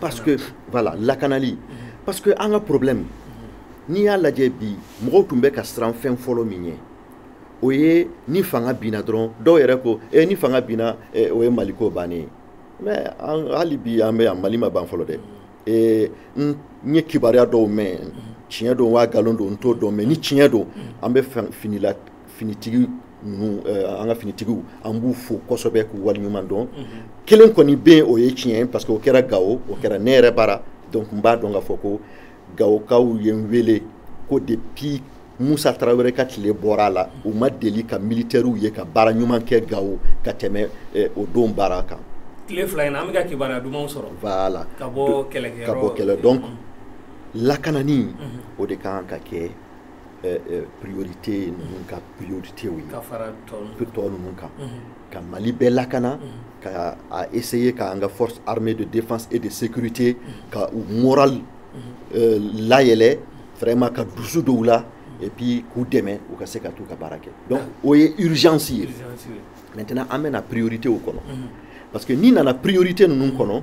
parce que voilà lakanali parce que an ka problème n'i y'a lajɛ bi mɔgɔw tun bɛ ka siran fɛn fɔlɔ min ɲɛ o ye ni fanga binna dɔrɔn dɔw yɛrɛ ko e ni fanga binna eh, o ye maliko bannen ye mais hali bi an bɛ yan mali ma ban fɔlɔ dɛ eh, n ye kibaruya dɔw mɛn tiɲɛ don wa nkalon don n t'o dɔn mais ni tiɲɛ don an bɛ finila finitigi ninnu an ka finitigiw an b'u fo kosɛbɛ k'u waleɲuman dɔn kelen kɔni bɛ yen o ye tiɲɛ ye parce que o kɛra gawo o kɛra ne yɛrɛ bara donc n b'a dɔn k'a fɔ ko gawokaw ye n wele ko depuis musa tarawele ka tile bɔra a la u ma deli ka militɛriw ye ka baara ɲuman kɛ gawo ka tɛmɛ o don baara kan tile fila in na an bɛ ka kibaruya dumanw sɔrɔ voilà ka bɔ kɛlɛkɛyɔrɔ ka bɔ kɛlɛ donc lakanani o de kan ka kɛ priorité ninnu ka priorité ye ka fara tɔ ninnu kan ka Mali bɛɛ lakana ka a essayer ka an ka force armée de défense et de sécurité ka u moral euh, layɛlɛ vraiment ka dusu don u la et puis k'u dɛmɛ u ka se ka t'u ka baara kɛ donc o ye urgence ye maintenant an bɛ na prioritéw kɔnɔ parce que n'i nana priorité ninnu kɔnɔ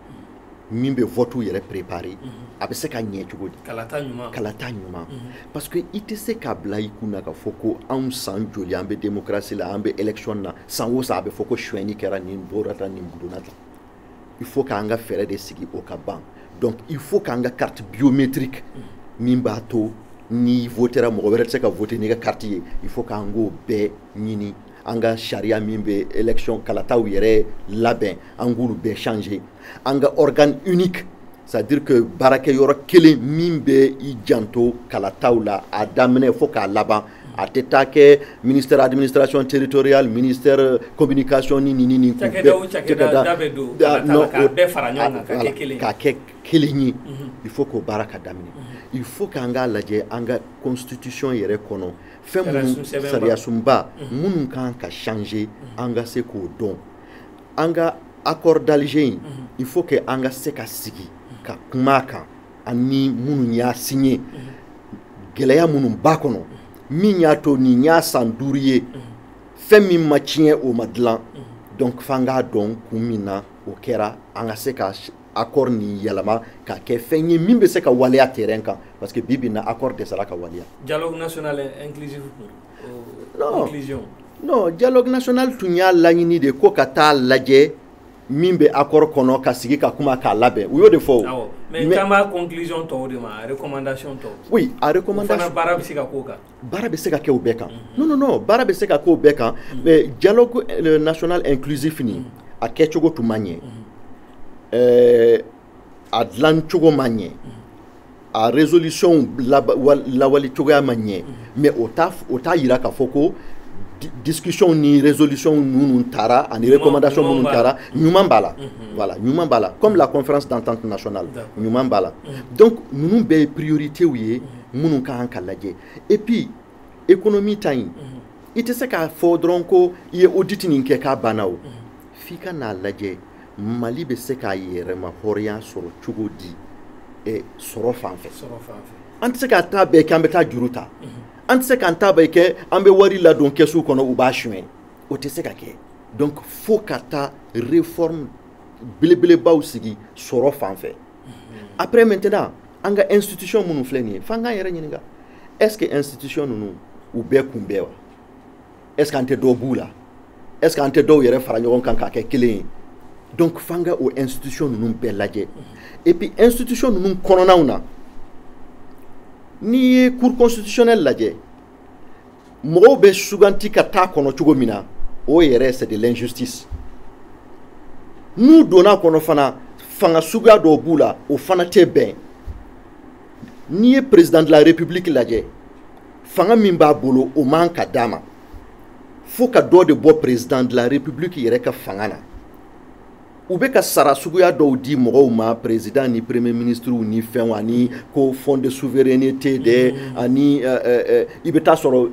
min bɛ vote yɛrɛ préparer a bɛ se ka ɲɛ cogo di kalata ɲuman parce que i tɛ se k'a bila i kun na k'a fɔ ko anw san joli an bɛ démocratie la an bɛ élection na san o san a bɛ fɔ ko suɲɛni kɛra nin bɔra tan nin donna tan il faut k'an ka fɛɛrɛ de sigi o ka ban donc il faut k'an ka carte biométrique min b'a to n'i votera mɔgɔ wɛrɛ tɛ se ka voter n'i ka carte ye il faut k'an k'o bɛɛ ɲini an ka sariya min bɛ élection kalataw yɛrɛ labɛn an k'olu bɛɛ changer an ka organe unique c'est à dire que baarakɛ yɔrɔ kelen min bɛ i janto kalataw la a daminɛ fo k'a laban a tɛ taa kɛ ministère administration territoriale ministère communication ni nin ni nin k'u bɛɛ k'a kɛ kelen ye il faut k'o baara ka daminɛ il faut k'an k'a lajɛ an ka constitution yɛrɛ kɔnɔ fɛn minnu sariyasunba minnu ka kan ka changer an ka se k'o dɔn an ka accord d'Alger in il faut que an ka se ka sigi ka kuma a kan ani minnu y'a signé gɛlɛya minnu b'a kɔnɔ min y'a to nin y'a san duuru ye fɛn min ma tiɲɛ o ma dilan donc f'an k'a dɔn kun min na o kɛra an ka se ka accord nin yɛlɛma k'a kɛ fɛn ye min bɛ se ka waleya terrain kan parce que bi bi in na accord dɛsɛra ka waleya. dialogue national inclusif non inclusion. non dialogue national tun y'a laɲini de ko ka t'a lajɛ min bɛ accord kɔnɔ ka sigi ka kuma k'a labɛn u y'o de fɔ. awɔ mais n kan b'a conclusion tɔw de ma a recommandation tɔw. oui a recommandation o fana baara bɛ se ka k'o kan. baara bɛ se ka kɛ o bɛɛ kan non non non baara bɛ se ka kɛ o bɛɛ kan mais dialogue euh, national inclusif nin a kɛcogo tun ma ɲɛ euh, a dilan cogo ma ɲɛ a résolution lawale cogoya ma ɲɛ mais o t'a o t'a yira k'a fɔ ko discussion ni résolution minnu tara ani recommandation minnu tara ɲuman b'a la mhm. voilà ɲuman b'a la comme la conférence d'entente nationale ɲuman b'a la mhm. donc ninnu bɛɛ ye priorités ye mhm. minnu ka kan ka lajɛ et puis économie ta in mhm. i tɛ se k'a fɔ dɔrɔn ko i ye audit nin kɛ k'a banna o mhm. f'i ka n'a lajɛ mali bɛ se k'a yɛrɛma hɔrɔnya sɔrɔ cogo di eh, sɔrɔ fan fɛ an tɛ se k'an ta bɛɛ kɛ an bɛ taa juru ta mhm. an tɛ se k'an ta bɛɛ kɛ an bɛ wari ladon kɛsu kɔnɔ u b'a suɲɛ o tɛ se ka kɛ donc fo ka taa réforme belebelebaw sigi sɔrɔ fan fɛ après maintenant an ka institution minnu filɛ nin ye f'an k'an yɛrɛ ɲininka est ce que institution ninnu u bɛɛ kun bɛ wa est ce que an tɛ dɔw b'u la est ce que an tɛ dɔw yɛrɛ fara ɲɔgɔn kan k'a kɛ kelen ye donc f'an ka o institution ninnu bɛɛ lajɛ et puis institution ninnu kɔnɔnaw na n'i ye cour constitutionnelle lajɛ mɔgɔw bɛ suganti ka taa kɔnɔ cogo min na o yɛrɛ c'est de l'injustice n'u donna kɔnɔ fana fanga suguya dɔw b'u la o fana tɛ bɛn n'i ye président de la république lajɛ fanga min b'a bolo o man ka d'a ma fo ka dɔ de bɔ président de la république yɛrɛ ka fanga na u bɛ ka sara suguya dɔw di mɔgɔw ma président ni premier ministrew ni fɛnw ani ko fond de souveraineté dɛ mm. ani euh, euh, euh, i bɛ t'a sɔrɔ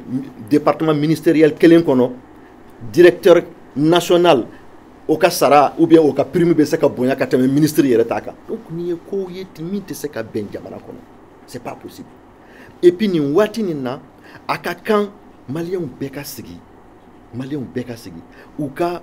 département ministériel kelen kɔnɔ directeur national o ka sara ou bien o ka prime bɛ se ka bonya ka tɛmɛ ministre yɛrɛ ta kan donc nin ye kow ye min tɛ se ka bɛn jamana kɔnɔ c'est pas possible et puis nin waati nin na a ka kan maliyɛnw bɛɛ ka sigi maliyɛnw bɛɛ ka sigi u ka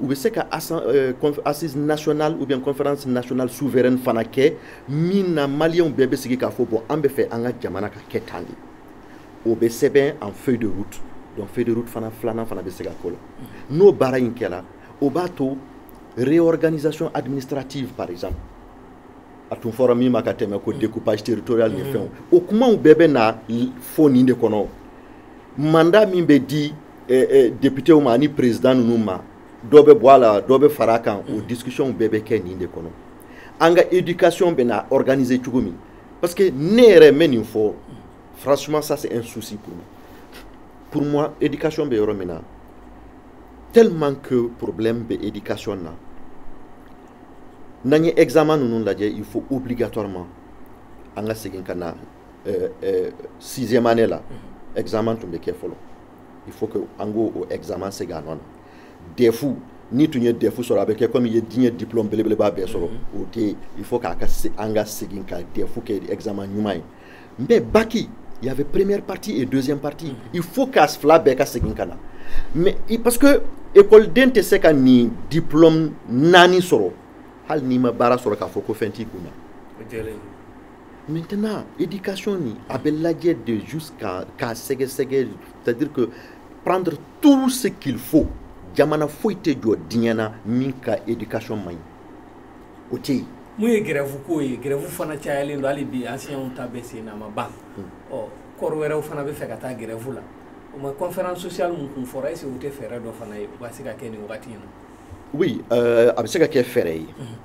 u bɛ se ka euh, assise nationale ou bien conférence nationale souveraine fana kɛ min na maliyɛnw bɛɛ bɛ sigi k'a fɔ bon an bɛ fɛ an ka jamana ka kɛ tan de o bɛ sɛbɛn en feuille de route donc feuille de route fana filanan fana bɛ se ka k'o la n'o baara in kɛra o b'a to réorganisation administrative par exemple a tun fɔra min ma ka tɛmɛ ko découpage territorial ni mm. fɛnw o kumaw bɛɛ bɛ na fɔ nin de kɔnɔ mandat min bɛ di eh, eh, députéw ma ani président ninnu ma dɔ bɛ bɔ a la dɔ bɛ fara a kan o discussion bɛɛ bɛ kɛ nin de kɔnɔ an ka éducation bɛ na organiser cogo min parce que ne yɛrɛ n bɛ nin fɔ franchement ça c'est un souci pour moi pour moi éducation bɛ yɔrɔ min na tellement que problème bɛ éducation na n'an ye examen ninnu lajɛ il faut obligatoirement an ka segin ka na sixième année la examen tun bɛ kɛ fɔlɔ il faut que an k'o examen segin a nɔ na defu n'i tun ye defu sɔrɔ a bɛ kɛ komi i ye diɲɛ diplôme belebeleba bɛɛ sɔrɔ o tɛ yen il faut k'a ka an ka segin ka defu kɛ examen ɲuman ye mais baki il y avait première partie et deuxième partie il faut k'a fila bɛɛ ka segin ka na mais parce que ekɔliden tɛ se ka nin diplôme naani sɔrɔ hali n'i ma baara sɔrɔ k'a fɔ ko fɛn t'i kun na maintenant éducation nin a bɛ lajɛ de jusqu'à k'a sɛgɛsɛgɛ c'est à dire que prendre tout ce qu'il faut jamana foyi tɛ jɔ diɲɛ na min ka éducation man ɲi o tɛ yen mun ye grève ko ye grève fana cayalen don hali bi enseignantw ta bɛ sen na a ma ban ɔ corps wɛrɛw fana bɛ fɛ ka taa grève la o ma conférence sociale mun kun fɔra est-ce que o tɛ fɛɛrɛ dɔ fana ye u ka se ka kɛ nin wagati in na oui euh, a bɛ se ka kɛ fɛɛrɛ ye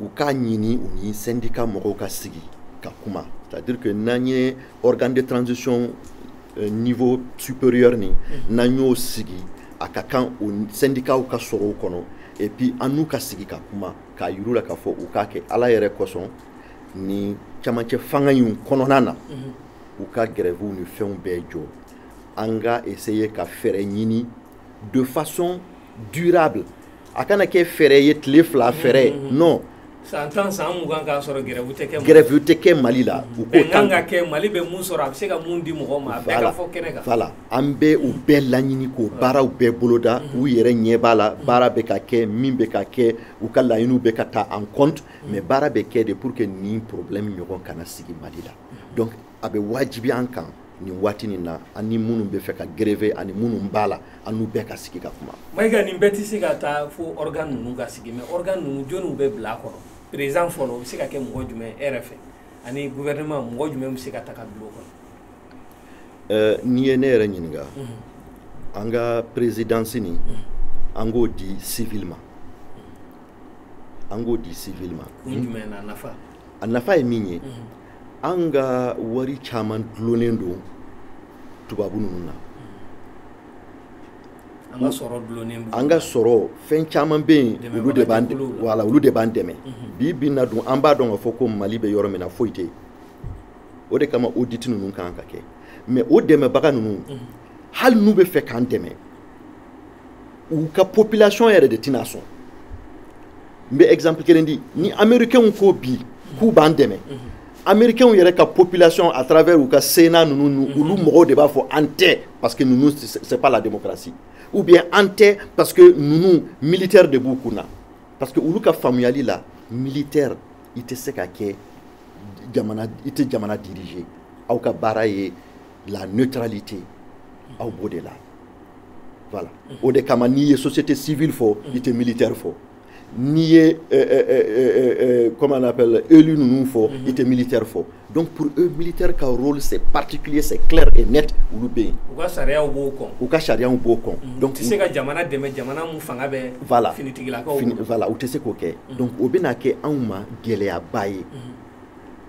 u k'a ɲini u ni sɛndika mɔgɔw ka sigi ka kuma c'est à dire que n'an ye organe de transition euh, niveau supérieur nin mhm. n'an y'o sigi a ka kan o sɛndikaw ka sɔrɔ o kɔnɔ et puis an n'u ka sigi ka kuma k'a yir'u la k'a fɔ u k'a kɛ ala yɛrɛ kosɔn ni camancɛ fanga in kɔnɔna na mhm. u ka grèvew ni fɛnw bɛɛ jɔ an ka essayer ka fɛɛrɛ ɲini de façon durable a kana kɛ fɛɛrɛ ye tile fila fɛɛrɛ ye mm-hmm. non san tan san mugan k'a sɔrɔ grève tɛ kɛ grève tɛ kɛ mali la u k'o tan ka kɛ mali bɛ mun sɔrɔ a bɛ se ka mun di mɔgɔ ma a bɛɛ ka fɔ kɛnɛ kan voilà an bɛ u bɛɛ laɲini k'o baaraw bɛɛ boloda mm-hmm. u yɛrɛ ɲɛ b'a la mm-hmm. baara bɛ ka kɛ min bɛ ka kɛ u ka laɲiniw bɛ ka ta en compte mais baara bɛ kɛ de pour que nin problème ɲɔgɔn kana sigi mali la donc a bɛ wajibi an kan nin waati nin na an ni minnu bɛ fɛ ka grève ani minnu b'a la an n'u bɛɛ ka sigi ka kuma mayiga nin bɛɛ tɛ se ka taa fo organe ninnu ka sigi mais organe ninnu jɔniw bɛ bila a kɔnɔ président fɔlɔ o bɛ se ka kɛ mɔgɔ jumɛn e yɛrɛ fɛ ani gouvernement mɔgɔ jumɛn bɛ se ka ta ka bila o kɔnɔ euh, n'i ye ne yɛrɛ ɲininka mhm. an ka présidence nin mhm. an k'o di civil ma an k'o di civil ma a nafa ye min ye mhm. an ka wari caman dulonnen don tubabu ninnu na an ka sɔrɔ fɛn caman bɛ yen olu de b'an wala olu de b'an dɛmɛ mhm. bi bi in na dun an b'a dɔn k'a fɔ ko mali bɛ yɔrɔ min na foyi tɛ yen o de kama audit ninnu kan ka kɛ mais o dɛmɛbaga ninnu mhm. hali n'u bɛ fɛ k'an dɛmɛ u ka population yɛrɛ de tɛna sɔn n bɛ exemple kelen di ni américainw ko bi k'u b'an dɛmɛ américainw yɛrɛ ka population à travers u ka sénat ninnu olu mɔgɔw de b'a fɔ an tɛ parce que ninnu c'est pas la démocratie ou bien an tɛ parce que ninnu militaire de b'u kun na parce que olu ka faamuyali la militaire i tɛ se ka kɛ jamana i tɛ jamana diriger aw ka baara ye la neutralité aw b'o de la voilà o de kama n'i ye société civile fɔ i tɛ militaire fɔ n'i ye euh, euh, euh, comment on appelle élu ninnu fɔ i tɛ militaire fɔ donc pour eux militaire ka rôle c'est particulier c'est clair et net olu bɛ yen u ka sariyaw b'o kɔn u ka sariyaw b'o kɔn mhm. donc u tɛ se ka jamana dɛmɛ jamana min fanga bɛ voilà finitigilakaw voilà u tɛ se k'o kɛ mhm. donc o bɛna kɛ anw ma gɛlɛyaba ye mhm.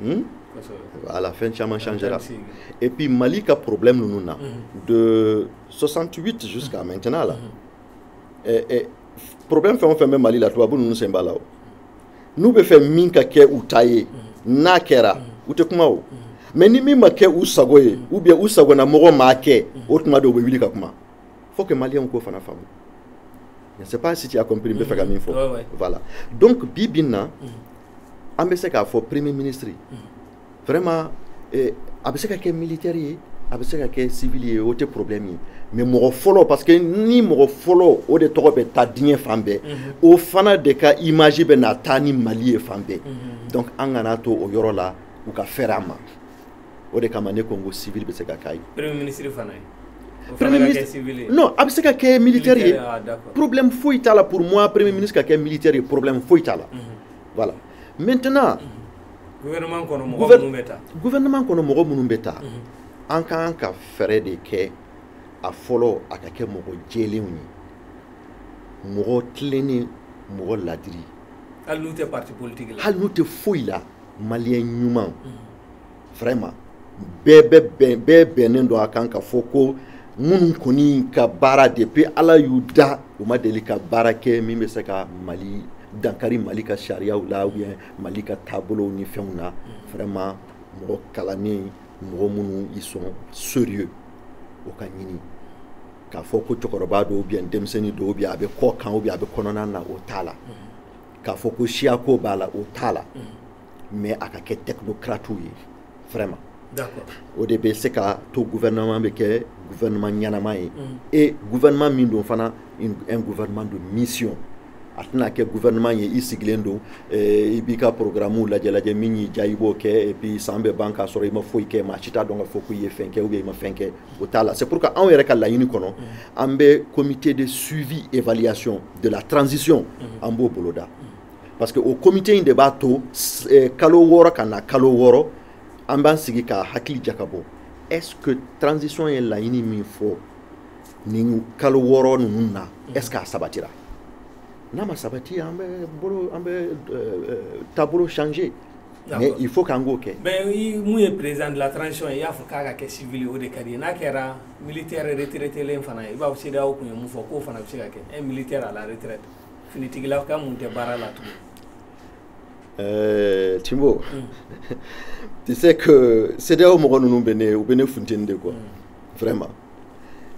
Hmm? À la fin, Chaman changera. Et puis Mali a problème nous mhm. de 68 jusqu'à mhm. maintenant là. Mhm. Et, problème fait on fait même Mali la toi nous sommes là. Nous be fait min ka ke ou taye na kera ou te kuma ou. Mais ni mi ma ke ou sagoye ou bien ou sago na mogo ma ke ou tuma do be wili ka kuma. Faut que Mali on ko fana famu. Je ne sais pas si tu as compris, mais mm -hmm. Voilà. Donc, Bibina, mm -hmm. an bɛ se k'a fɔ premier ministre vraiment eh, a bɛ se ka kɛ militaire ye a bɛ se ka kɛ civil ye o tɛ problème ye mais mɔgɔ fɔlɔ parce que ni mɔgɔ fɔlɔ o de tɔgɔ bɛ taa diɲɛ fan bɛɛ mhm. o fana de ka image bɛna taa ni mali ye fan bɛɛ mhm. donc an kan'a to o yɔrɔ la u ka fɛrɛ a ma o de kama ne ko ko civil bɛ se ka kɛ ministre fana ye a bɛ se ka kɛ militaire ye problème foyi t'a la pour moi premier ministre ka kɛ militaire ye problème foyi t'a la voilà maintenant gouvernement kɔnɔ mɔgɔ minnu bɛ taa an ka kan ka fɛɛrɛ de kɛ a fɔlɔ a ka kɛ mɔgɔ jɛlenw ye mɔgɔ tilennen mɔgɔ ladiri hali n'u tɛ parti politique la maliyɛn ɲuman vraiment bɛɛ bɛ bɛn bɛɛ bɛnnen don a kan k'a fɔ ko minnu kɔni ka baara depuis ala y'u da u ma deli ka baara kɛ min bɛ se ka mali dankari mali ka sariyaw la ou bien mali ka taabolow ni fɛnw na vraiment mɔgɔ kalannen mɔgɔ minnu ils sont sérieux o ka ɲini k'a fɔ ko cɛkɔrɔba don ou bien denmisɛnnin don ou bien a bɛ kɔ kan ou bien a bɛ kɔnɔna na o t'a la k'a fɔ ko siyako b'a la o t'a la mais a ka kɛ technocratew ye vraiment o de bɛ se ka to gouvernement bɛ kɛ gouvernement ɲɛnama ye mm. et gouvernement min don fana un gouvernement de mission a tɛna kɛ gouvernement ye i sigilen don eh, i b'i ka programmew lajɛ lajɛ min y'i diya i b'o kɛ et puis san bɛ ban k'a sɔrɔ i ma foyi kɛ maa si t'a dɔn k'a fɔ ko i ye fɛn kɛ ou bien i ma fɛn kɛ o t'a la c'est pourquoi anw yɛrɛ ka laɲini kɔnɔ mm-hmm. an bɛ comité de suivi évaluation de la transition mm-hmm. an b'o boloda mm-hmm. parce que o comité in de b'a to eh, kalo wɔɔrɔ ka na kalo wɔɔrɔ an b'an sigi ka hakili jakabɔ est-ce que transition ye laɲini min fɔ nin kalo wɔɔrɔ ninnu na est-ce que a sabatira n'a ma sabati an bɛ bolo an bɛ eh, eh, taabolo changer mais il faut k'an k'o kɛ mais mun ye président de la transition ye i y'a fɔ k'a ka kɛ civil o de ka di i ye n'a kɛra militaire retraitélen fana ye i b'a fɔ CEDEAO tun ye mun fɔ k'o fana bɛ se ka kɛ un militaire à la retraite finitigilaka mun tɛ baara la tugun Euh, Timbo, mm. tu sais que CEDEAO mɔgɔ ninnu bɛ ne u bɛ ne funteni de quoi mm. vraiment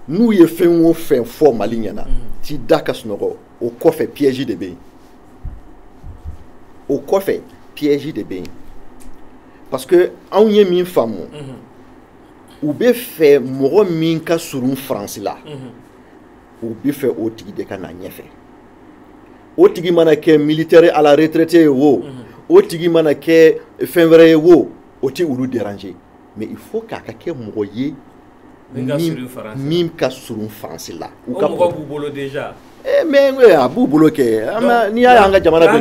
n'u ye fɛn o fɛn fɔ Mali ɲɛna mm. t'i da ka sunɔgɔ o kɔfɛ piège de bɛ yen o kɔfɛ piège de bɛ yen parce que anw ye min faamu u bɛ fɛ mɔgɔ min ka surun faransi la u bɛ fɛ o tigi de ka na ɲɛfɛ o tigi mana kɛ militaire à la retraite ye wo o tigi mana kɛ fɛn wɛrɛ ye wo o tɛ olu déranger mais il faut k'a ka kɛ mɔgɔ ye min ka surun faransi la o mɔgɔ b'u bolo déjà mais a b'u bolo kɛ n'i y'a an ka jamana don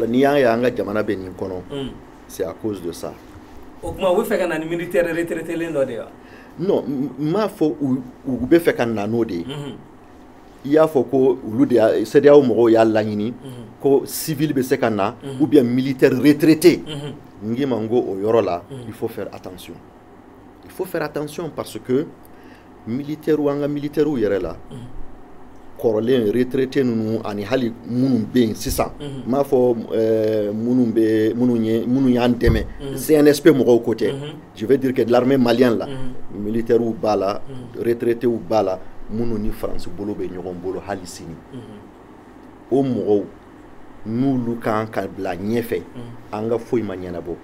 n'i y'a ye an ka jamana bɛ nin kɔnɔ hmm. c'est à cause de ça o tuma u bɛ fɛ ka na ni militaire retraitélen dɔ de wa non n m'a fɔ u bɛ fɛ ka na n'o de ye hmm. i y'a fɔ ko olu de CEDEAO mɔgɔw y'a laɲini ko civil bɛ se ka na ou bien militaire retraité n k'i ma n ko o yɔrɔ la il faut faire attention il faut faire attention parce que militairew an ka militairew yɛrɛ la kɔrɔlen retraité ninnu ani hali minnu bɛ yen sisan n m'a fɔ minnu bɛ minnu ye minnu y'an dɛmɛ CNSP mɔgɔw ko tɛ Je veux dire que l'armée malienne la, mm. militairew b'a la, mm. retraitéw b'a la, minnu ni France bolo bɛ ɲɔgɔn bolo hali sini mm-hmm. o mɔgɔw n'olu kan ka bila ɲɛfɛ mm. an ka foyi ma ɲɛnabɔ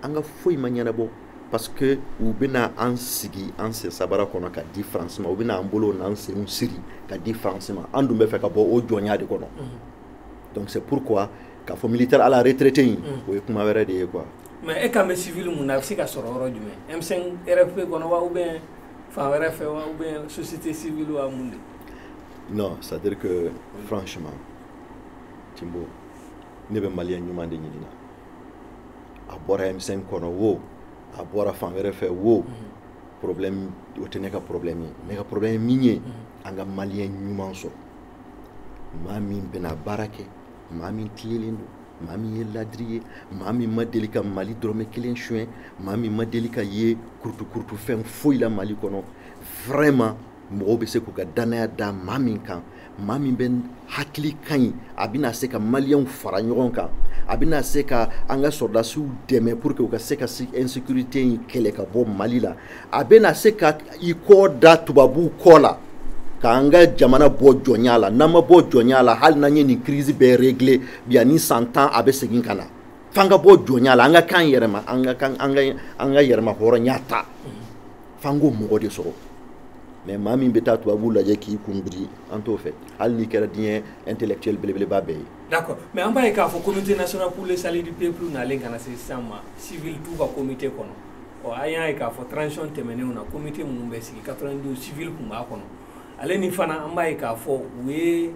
an ka foyi ma ɲɛnabɔ parce que u bɛna an sigi an sen sabara kɔnɔ ka di France ma u bɛna an bolo n'an senw siri ka di France ma an dun bɛ fɛ ka bɔ o jɔnya de kɔnɔ mm-hmm. donc c'est pourquoi k'a fɔ militaire à la retraite in mm. o ye kuma wɛrɛ de ye quoi mais e kan bɛ civil mun na a bɛ se ka sɔrɔ yɔrɔ jumɛn M5 RFP kɔnɔ wa ou bien fan wɛrɛ fɛ wa ou bien société civile wa mun de non c'est à dire que franchement timbo ne bɛ maliyɛn ɲuman de ɲinina a bɔra M5 kɔnɔ wo a bɔra fan wɛrɛ fɛ wo mm-hmm. problème o tɛ ne ka problème ye ne ka problème ye min ye mm-hmm. an ka maliyɛn ɲuman sɔrɔ maa min bɛna baara kɛ maa min tilennen don maa min ye ladiri ye maa min ma deli ka mali dɔrɔmɛ kelen suɲɛ maa min ma deli ka ye kurutukurutu fɛn foyi la mali kɔnɔ vraiment mɔgɔw bɛ se k'u ka dannaya da maa min kan maa min bɛ hakili ka ɲi a bɛna se ka maliyɛnw fara ɲɔgɔn kan a bɛna se ka an ka sɔrɔdasiw dɛmɛ pour que u ka se ka insécurité in kɛlɛ ka bɔ mali la a bɛna se ka i kɔ da tubabuw kɔ la k'an ka jamana bɔ jɔnya la n'an ma bɔ jɔnya la hali n'an ye nin crise bɛɛ régler bi ani san tan a bɛ segin ka na f'an ka bɔ jɔnya la an ka kan yɛrɛma an ka yɛrɛmahɔrɔnya ta f'an k'o mɔgɔ de sɔrɔ mais maa min bɛ taa tubabuw lajɛ k'i kun biri an t'o fɛ hali n'i kɛra diɲɛ intellectuel belebeleba bɛɛ ye d'accord mais an b'a ye k'a fɔ comité national pour le salut du peuple nalen ka na se sisan ma civil t'u ka comité kɔnɔ ɔ an y'a ye k'a fɔ transition tɛmɛnenw na comité minnu bɛ sigi 92 civil tun b'a kɔnɔ ale ni fana an b'a ye k'a fɔ u ye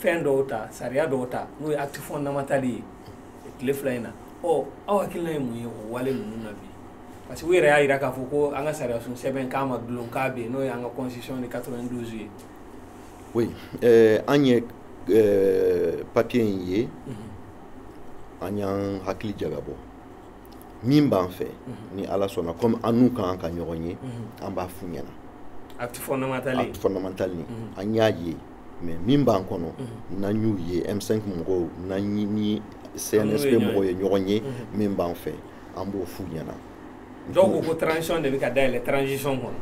fɛn dɔw ta sariya dɔw ta n'o ye acte fondamental ye tile fila in na ɔ aw hakilina ye mun ye o wale ninnu na bi parce que u yɛrɛ y'a jira k'a fɔ ko an ka sariyasun sɛbɛn k'a ma dulon k'a bɛ yen n'o ye an ka constitution de 92 ye oui euh, an ye euh, papier in ye mhm. an y'an hakili jagabɔ min b'an fɛ mhm. ni ala sɔnna comme an n'u kan ka ɲɔgɔn ye mhm. an b'a f'u ɲɛna acte fondamental ni mhm. an y'a ye mais min b'an kɔnɔ n'an y'u ye M5 mɔgɔw n'an ni CNSP mɔgɔw ye ɲɔgɔn ye min b'an fɛ an b'o f'u ɲɛna dɔw ko ko transition de bɛ ka dayɛlɛ transition kɔnɔ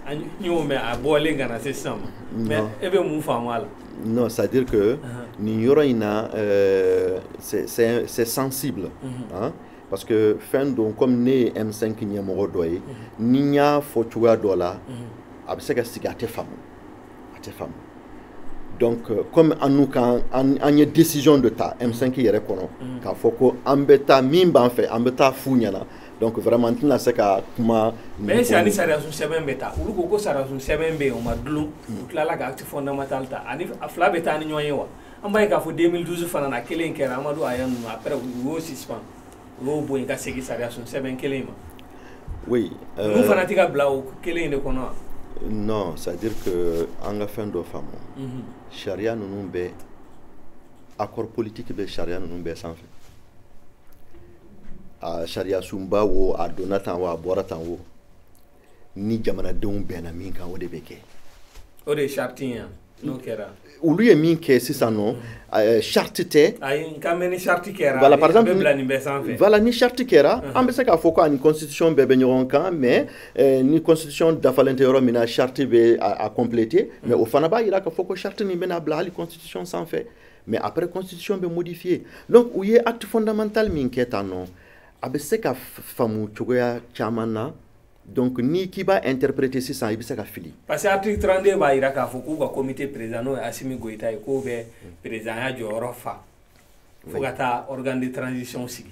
an y'o mɛn a bɔlen ka na se sisan ma mais e bɛ mun faamu a la Non, c'est-à-dire que uh-huh. nin yɔrɔ in na euh, c'est sensible. Uh-huh. Hein? parce que fɛn don comme ne ye M5 ɲɛmɔgɔ dɔ ye uh-huh. ni n y'a fɔ cogoya dɔ la a bɛ se ka sigi a tɛ faamu a tɛ faamu donc euh, comme an n'u kan an ye décision de ta M5 yɛrɛ kɔnɔ k'a fɔ ko an bɛ taa min b'an fɛ an bɛ taa f'u ɲɛna donc vraiment n tɛna se ka kuma. mais est ce que ani sariyasun sɛbɛn bɛ ta olu ko ko sariyasun sɛbɛn bɛ yen o ma dulon. u tilala ka acte fondamental ta ani a fila bɛ taa ni ɲɔgɔn ye wa an b'a ye k'a fɔ 2012 fana na kelen kɛra amadu aya ninnu après u y'o suspend u y'o bɔ yen ka segin sariyasun sɛbɛn kelen in ma. oui. ninnu euh, fana tɛ ka bila o kelen in de kɔnɔ wa. non c'est à dire que an ka fɛn dɔ faamu. Mhm. sariya ninnu bɛɛ accord politique bɛ sariya ninnu bɛɛ sanfɛ. a sariyasunba wo a donna tan wo a bɔra tan wo ni jamanadenw bɛnna min kan o de bɛ kɛ o de ye charte ye yan n'o kɛra olu ye min kɛ sisan nɔ eh, charte tɛ ayi n kan bɛ ni charte kɛra voilà par exemple a bɛ bila nin bɛɛ sanfɛ voilà ni charte kɛra an bɛ se k'a fɔ ko ani constitution bɛɛ bɛ ɲɔgɔn kan mais eh, ni constitution dafalen tɛ yɔrɔ min na charte bɛ a compléter mais o fana b'a jira k'a fɔ ko charte nin bɛna bila hali constitution sanfɛ mais après constitution bɛ modifier donc u ye acte fondamental min kɛ tan nɔ a bɛ se ka faamu cogoya caman na donc n'i k'i b'a interpréter sisan i bɛ se ka fili. parce que article 32 b'a jira k'a fɔ k'u ka comité président n'o ye Asimi Goyita ye k'o bɛ présidenya jɔyɔrɔ fa fo ka taa organe de transition sigi.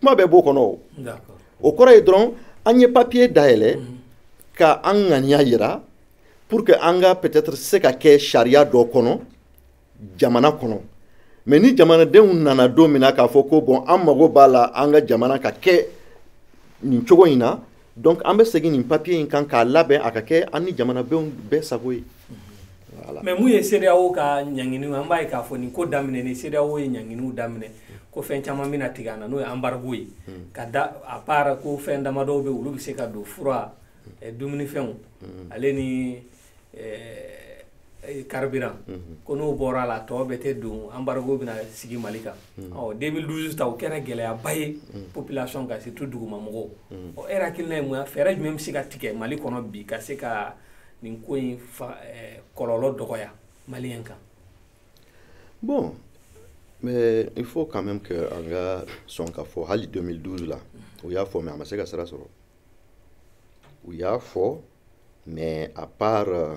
kuma bɛɛ b'o kɔnɔ o o kɔrɔ ye dɔrɔn an ye papiye dayɛlɛ mhm. ka an ŋaniya yira pour que an ka peut-être se ka kɛ sariya dɔ kɔnɔ jamana kɔnɔ mais ni jamanadenw nana don min na k'a fɔ ko bon an mago b'a la an ka jamana ka kɛ nin cogo in na donc an bɛ segin nin papiye in kan k'a labɛn a ka kɛ an ni jamanadenw bɛɛ sago ye mais mun ye cedeao ka ɲanginiw an b'a ye k'a fɔ nin ko daminɛ ni cedeao ye ɲanginiw daminɛ ko fɛn caman bɛna tigɛ an na n'o ye embargo ye ka da à part ko fɛn damadɔw bɛ olu bɛ se ka don fura dumunifɛnw ale ni carburant ko n'o bɔra a la tɔ bɛɛ tɛ don embargo bɛna sigi mali kan 2012 ta o kɛra gɛlɛyaba ye population kan surtout dugumamɔgɔw ɔ e hakilina ye mun ye fɛɛrɛ jumɛn bɛ se ka tigɛ mali kɔnɔ bi ka se ka nin ko in fa eh, kɔlɔlɔ dɔgɔya maliyɛn kan bon mais il faut quand même que an ka sɔn k'a fɔ hali 2012 la u y'a fɔ mais a ma se ka sira sɔrɔ u y'a fɔ mais à part euh,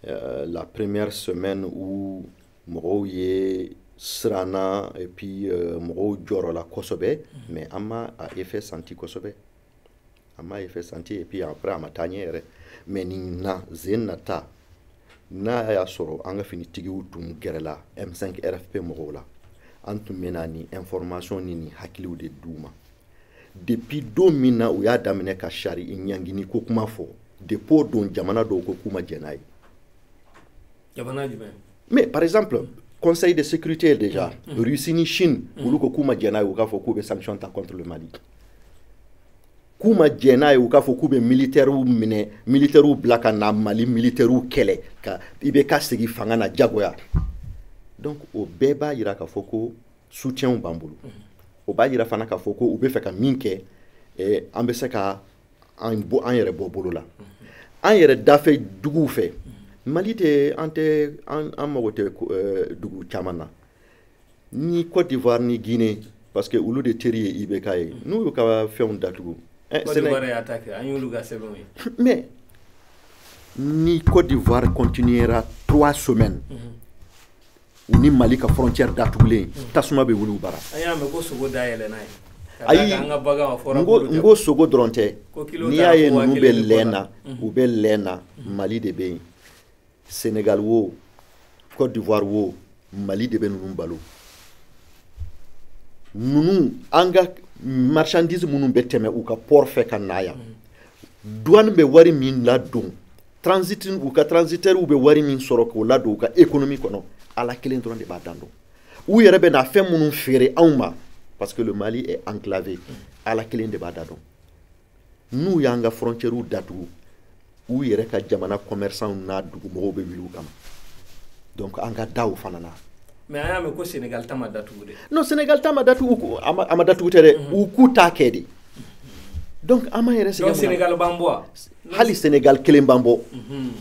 euh la première semaine où mɔgɔw ye siranna et puis euh, mɔgɔw jɔrɔla kosɛbɛ mais an ma a effet senti kosɛbɛ an m'a effet senti et puis après a ma taa ɲɛ yɛrɛ mais nin na sen na ta n'a y'a sɔrɔ an ka finitigiw tun gɛrɛla m5 rfp mɔgɔw la an tun bɛna nin information ni nin hakiliw de d'u ma depuis don min na u y'a daminɛ ka sari ɲangini ko kuma fɔ depuis o don jamana dɔw ko k'u ma jɛn n'a ye jamana jumɛn mais par exemple conseil de sécurité déjà mm. mm. russie ni chine mm. olu ko k'u ma jɛn n'a ye u k'a fɔ k'u bɛ sanction ta contre le mali k'u ma jɛn n'a ye u k'a fɔ k'u bɛ militɛriw minɛ militɛriw bila ka na mali militɛriw kɛlɛ ka IBK segin fanga na jagoya donc o bɛɛ b'a yira k'a fɔ ko soutienw b'an bolo o b'a yira fana k'a fɔ ko u bɛ fɛ ka min kɛ eh, an bɛ se ka an yɛrɛ bɔ bolo la an yɛrɛ dafɛ duguw fɛ mali tɛ an tɛ an mago tɛ eh, dugu caman na ni Côte d'Ivoire ni Guinée parce que olu de teri ye IBK ye n'u y'u ka fɛnw datugu eh, Côte d'Ivoire y'a ta kɛ an y'olu ka sɛbɛnw ye mais ni Côte d'Ivoire continuera trois semaines mm -hmm u ni mali ka frontière datugulen mm. tasuma bɛ wuli u bara ayi n ko sogo dɔrɔn tɛ n'i y'a ye ninnu bɛ lɛn na mm. u bɛ lɛn na mm. mali de bɛ yen senegal wo cote d'ivoire wo mali de bɛ ninnu balo ninnu an ka marchandise minnu bɛ tɛmɛ u ka port fɛ ka na yan douane bɛ wari min ladon transit u ka transitaires bɛ wari min sɔrɔ k'o ladon u ka économie kɔnɔ ala kelen dɔrɔn de b'a dan dɔn u yɛrɛ bɛ na fɛn minnu feere anw ma parce que le mali est enclavé ala kelen de b'a dan dɔn n'u y'an ka frontiɛriw datugu u yɛrɛ ka jamana commerçantw n'a dugumɔgɔw bɛ wuli u kama donc an ka da o fana na mais an y'a mɛn ko senegal ta ma datugu de non senegal ta ma datugu a ma datugu tɛ dɛ mhm. u k'u t'a kɛ de donc an m'an yɛrɛ sɛgɛn senegal b'an bɔ hali senegal kelen b'an bɔ mhm.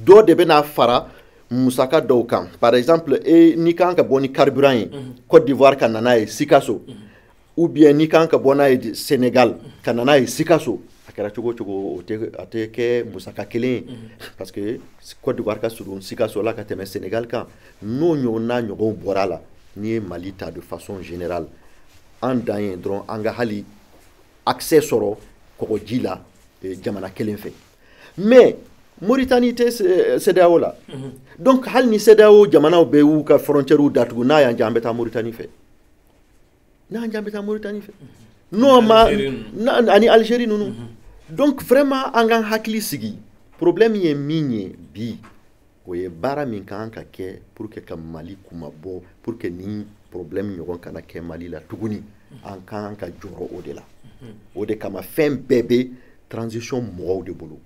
dɔ de bɛna fara musaka dɔw kan par exemple e n'i kan ka bɔ ni carburant ye mhm. cote d'ivoire ka na n'a ye sikaso ou bien n'i kan ka bɔ n'a ye Sénégal ka na n'a ye Sikaso a kɛra cogo cogo o tɛ a tɛ kɛ musaka kelen ye mhm. parce que Côte d'Ivoire ka surun Sikaso la ka tɛmɛ Sénégal kan n'o ɲɔgɔnna ɲɔgɔnw bɔra a la n'i ye Mali ta de façon générale an dan ye dɔrɔn an ka hali accès sɔrɔ kɔgɔji la eh, jamana kelen fɛ mais Mauritanie tɛ eh, CEDEAO la mhm. donc hali ni CEDEAO jamanaw bɛɛ y'u ka frontières datugu n'a y'an diya an bɛ taa Mauritanie fɛ n'a y'an diya an bɛ taa moritani fɛ n'o ma ani alizeri ninnu mhm. donc vraiment an k'an hakili sigi problème ye min ye bi o ye baara min ka kan ka kɛ pour que ka mali kunmabɔ pour que nin problème ɲɔgɔn kana kɛ mali la tuguni an ka kan ka jɔrɔ o de la mhm. o de kama fɛn bɛɛ bɛ transition mɔgɔw de bolo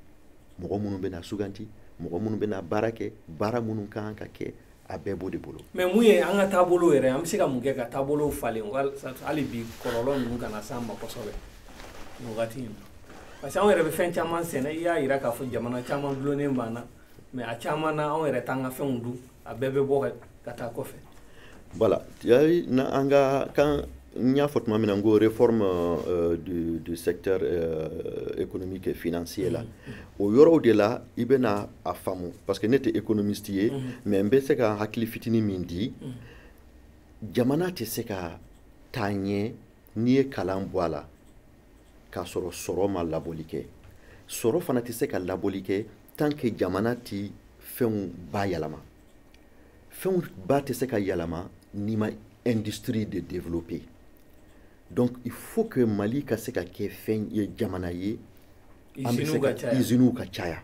mɔgɔ minnu bɛna suganti mɔgɔ minnu bɛna baara kɛ baara minnu ka kan ka kɛ a bɛɛ b'o de bolo mais mun ye an ka taabolo yɛrɛ an bɛ se ka mun kɛ ka taabolo falen hali bi kɔlɔlɔ ninnu kana s'an ma kosɛbɛ nin wagati in na parce que anw yɛrɛ bɛ fɛn caman sɛnɛ i y'a jira k'a fɔ jamana caman dulonnen b'an na mais a caman na anw yɛrɛ t'an ka fɛnw dun a bɛɛ bɛ bɔ ka taa kɔfɛ voilà yɔrɔ in na an ka kan n y'a fɔ tuma min na n ko réforme euh, du, du secteur euh, économique et financier la mm -hmm. o yɔrɔw de la i bɛna a faamu parce que ne tɛ économiste ye mhm. mais n bɛ se ka hakili fitinin min di mhm. jamana tɛ se ka taa ɲɛ n'i ye kalan bɔ a la k'a sɔrɔ sɔrɔ ma labɔli kɛ sɔrɔ fana tɛ se ka labɔli kɛ tant que jamana tɛ fɛnw bayɛlɛma fɛnw ba tɛ se ka yɛlɛma n'i ma industrie de développer donc il faut que mali ka se ka kɛ fɛn ye jamana ye an bɛ se ka iziniw ka caya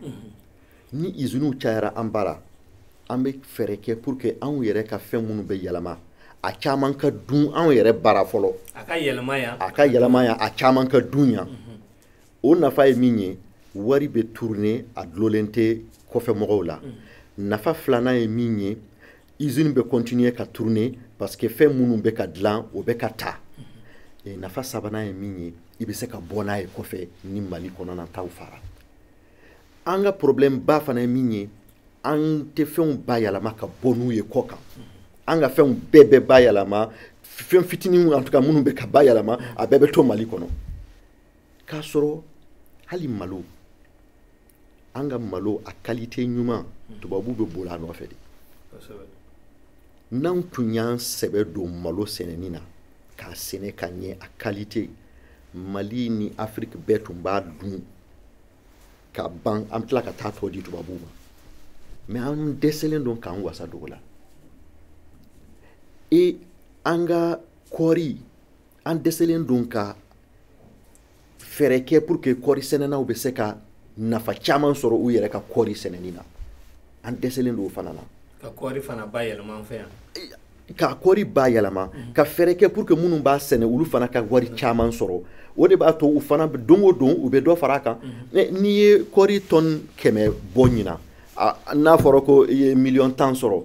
ni iziniw cayara an bara an bɛ fɛɛrɛ kɛ pour que anw yɛrɛ ka fɛn minnu bɛ yɛlɛma a caman ka dun anw yɛrɛ bara fɔlɔ a ka yɛlɛma yan a caman ka dun yan o nafa ye min ye wari bɛ tourner a dulonnen tɛ kɔfɛ mɔgɔw la nafa filanan ye min ye izini bɛ continuer ka tourner parce que fɛn minnu bɛ ka dilan o bɛ ka ta et nafa sabanan ye min ye i bɛ se ka bɔ n'a ye kɔfɛ ni mali kɔnɔna taw fara an ka problème ba fana ye min ye an tɛ fɛnw bayɛlɛma ka bɔ n'u ye kɔkan an ka fɛnw bɛɛ bɛ bayɛlɛma fɛn fitinin en tout cas minnu bɛ ka bayɛlɛma a bɛɛ bɛ to mali kɔnɔ k'a sɔrɔ hali malo an ka malo a kalite ɲuman tubabu bɛ boli a nɔfɛ de n'an tun y'an sɛbɛ don malo sɛnɛni na k'a sɛnɛ ka ɲɛ a kalite mali ni afiriki bɛɛ tun b'a dun ka ban an tila ka taa tɔ di tubabuw ma mais an dɛsɛlen don k'an wasa don o la et an ka kɔɔri an dɛsɛlen don ka fɛɛrɛ kɛ pour que kɔɔri sɛnɛnaw bɛ se ka nafa caman sɔrɔ u yɛrɛ ka kɔɔri sɛnɛni na an dɛsɛlen don o fana na ka kɔɔri fana bayɛlɛma an fɛ yan ka kɔɔri bayɛlɛma mhm. ka fɛɛrɛ kɛ pour que minnu b'a sɛnɛ olu fana ka wari caman sɔrɔ o de b'a to u fana don o don u bɛ dɔ fara a kan mhm. n'i ye kɔɔri tɔni kɛmɛ bɔ ɲina n'a fɔra ko i ye miliyɔn tan sɔrɔ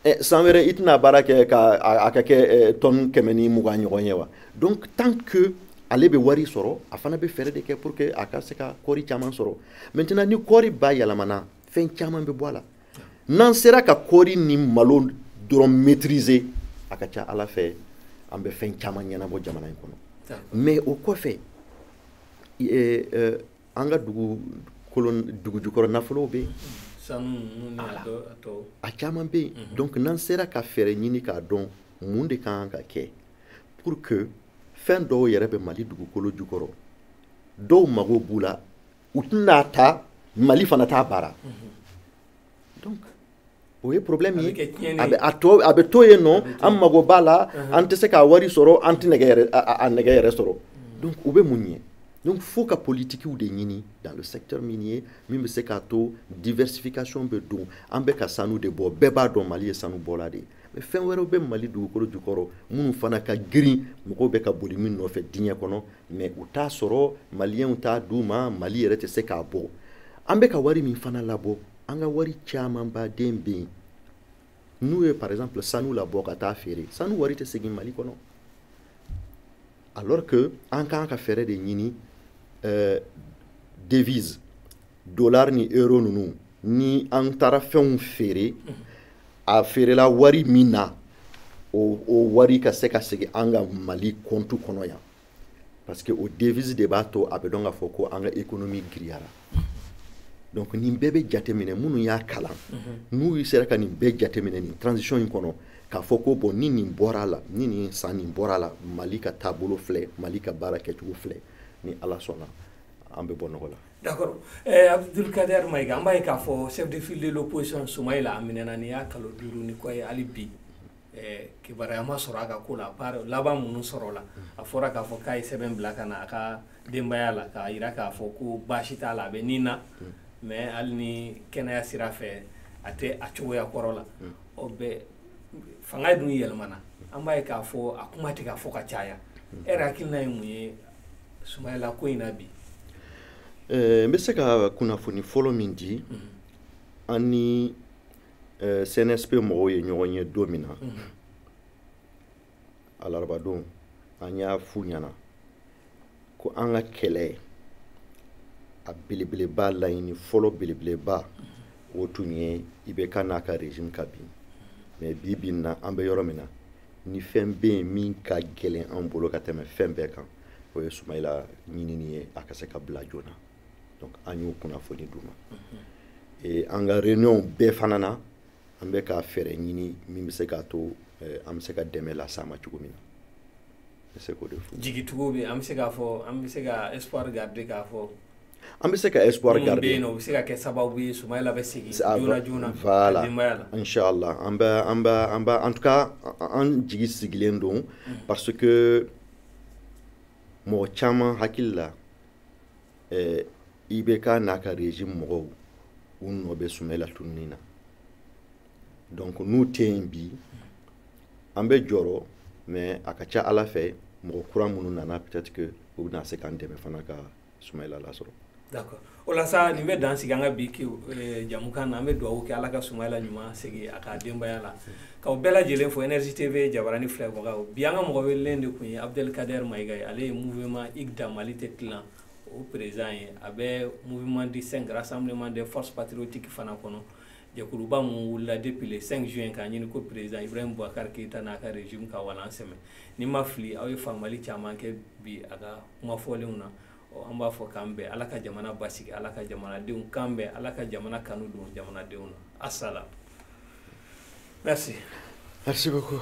Eh, san wɛrɛ i tɛna baara kɛ a ka kɛ eh, tɔn kɛmɛ ni mugan ɲɔgɔn ye wa donc tant que ale bɛ wari sɔrɔ a fana bɛ fɛɛrɛ de kɛ pour que a ka se ka kɔɔri caman sɔrɔ maintenant ni kɔɔri bayɛlɛmana fɛn caman bɛ bɔ a la n'an sera ka kɔɔri ni malo dɔrɔn maîtriser a ka ca ala fɛ an bɛ fɛn caman ɲɛnabɔ jamana in kɔnɔ mais o kɔfɛ eh, an ka dugukolo dugu jukɔrɔ nafolow bɛ yen sanu ninnu ni a Ala. tɔ- a tɔw a caman bɛ yen donc n'an sera ka fɛɛrɛ ɲini k'a dɔn mun de ka kan ka kɛ pour que fɛn dɔw yɛrɛ bɛ mali dugukolo jukɔrɔ dɔw mago b'u la u tɛ n'a ta mali fana t'a baara donc o ye problème ye a bɛ a to a bɛ to yen nɔ an mago b'a la an tɛ se k'a wari sɔrɔ an tɛ nɛgɛ yɛrɛ a nɛgɛ yɛrɛ sɔrɔ donc o bɛ mun ɲɛ donc fo ka politikiw de ɲini dans le secteur minier min bɛ se k'a to diversification bɛ don an bɛ ka sanu de bɔ bɛɛ b'a dɔn mali ye sanu bɔla de ye mais fɛn wɛrɛw bɛ mali dugukolo jukɔrɔ minnu fana ka girin mɔgɔw bɛ ka boli min nɔfɛ diɲɛ kɔnɔ mais u t'a sɔrɔ maliyɛnw t'a d'u ma mali yɛrɛ tɛ se k'a bɔ an bɛ ka wari min fana labɔ an ka wari camanba de bɛ yen n'u ye par exemple sanu labɔ ka taa feere sanu wari tɛ segin mali kɔnɔ alors que an kan ka fɛɛrɛ de ɲini euh, devise dollar ni euro ninnu ni an taara fɛnw feere a feerela wari min na o, o wari ka se ka segin an ka mali compte kɔnɔ yan parce que o devise de b'a to a bɛ dɔn k'a fɔ ko an ka économie giriyara donc nin bɛɛ bɛ jateminɛ minnu y'a kalan n'u sera ka nin bɛɛ jateminɛ nin transition in kɔnɔ k'a fɔ ko bon ni nin bɔra a la ni nin san nin bɔra a la mali ka taabolo filɛ mali ka baara kɛcogo filɛ ni ala sɔnna an bɛ bɔ nɔgɔ la D'accord. Eh, Abdul Kader Maïga, an b'a ye k'a fɔ chef de file de l'opposition Soumaïla a minɛna nin y'a kalo duuru ni kɔ ye hali bi eh, kibaruya ma sɔrɔ a ka ko la par laban minnu sɔrɔla a fɔra k'a fɔ k'a ye sɛbɛn bila ka na a ka denbaya la k'a jira k'a fɔ ko baasi t'a la a bɛ ni na mais hali ni kɛnɛya sira fɛ a tɛ a cogoya kɔrɔ la ɔ bɛ fanga dun yɛlɛmana an b'a ye k'a fɔ a kuma tɛ ka fɔ ka caya e yɛrɛ hakilina ye mun ye Soumaïla ko in na bi eh, n bɛ se ka kunnafoni fɔlɔ min di mhm. an ni eh, CNSP mɔgɔw ye ɲɔgɔn ye don min na mhm. alarabadon an y'a f'u ɲɛna ko an ka kɛlɛ a belebeleba laɲini fɔlɔ belebeleba mhm. o tun ye IBK n'a ka régime ka bin mais bi bi in na an bɛ yɔrɔ min na ni fɛn bɛ yen min ka gɛlɛn an bolo ka tɛmɛ fɛn bɛɛ kan o ye Soumaïla ɲinini ye a ka se ka bila joona donc an y'o kunnafoni d'u ma mhm. an ka réunion bɛɛ fana na an bɛ ka fɛɛrɛ ɲini min bɛ se k'a to eh, an bɛ se ka dɛmɛ las'a ma cogo min na n bɛ se k'o de fɔ jigitugu bɛ an bɛ se k'a fɔ an bɛ se ka espoir garder k'a fɔ an bɛ se ka espoir garder minnu bɛ yen nɔ u bɛ se ka kɛ sababu ye Sumayila bɛ segin joona joona voilà inchallah an bɛ an bɛ an bɛ en tout cas an jigi sigilen don mm. parce que mɔgɔ caman hakili la eh, IBK n'a ka régime mɔgɔw u nɔ bɛ Sumayila tununi na donc n'u tɛ yen bi an bɛ jɔrɔ mais a ka ca Ala fɛ mɔgɔ kura minnu nana peut-être que u bɛna se k'an dɛmɛ fana ka sumayila lasɔrɔ d'accord o la sa nin bɛ dan sigi an ka bi eh, jɛmukan na an bɛ dugawu kɛ ala ka sumayila ɲuman segin a ka denbaya la k'aw bɛɛ lajɛlen fo énergie tv jabarani filɛbagaw bi an ka mɔgɔ welelen de tun ye abdelkader mayiga ye ale ye mouvement igda mali tɛ tilan o perezan ye a bɛ mouvement du cinq rassemblement des forces patriotiques fana kɔnɔ jɛkuluba min wulila depuis le 5 juin k'a ɲini ko perezan ibrahim boubacar keyita n'a ka régime ka walan sɛmɛ ni n ma fili aw ye faamuyali caman kɛ bi a ka kuma fɔlenw na an b'a fɔ k'an bɛn ala ka jamana basigi ala ka jamanadenw kan bɛn ala ka jamana kanu don jamanadenw na asalam merci merci beaucoup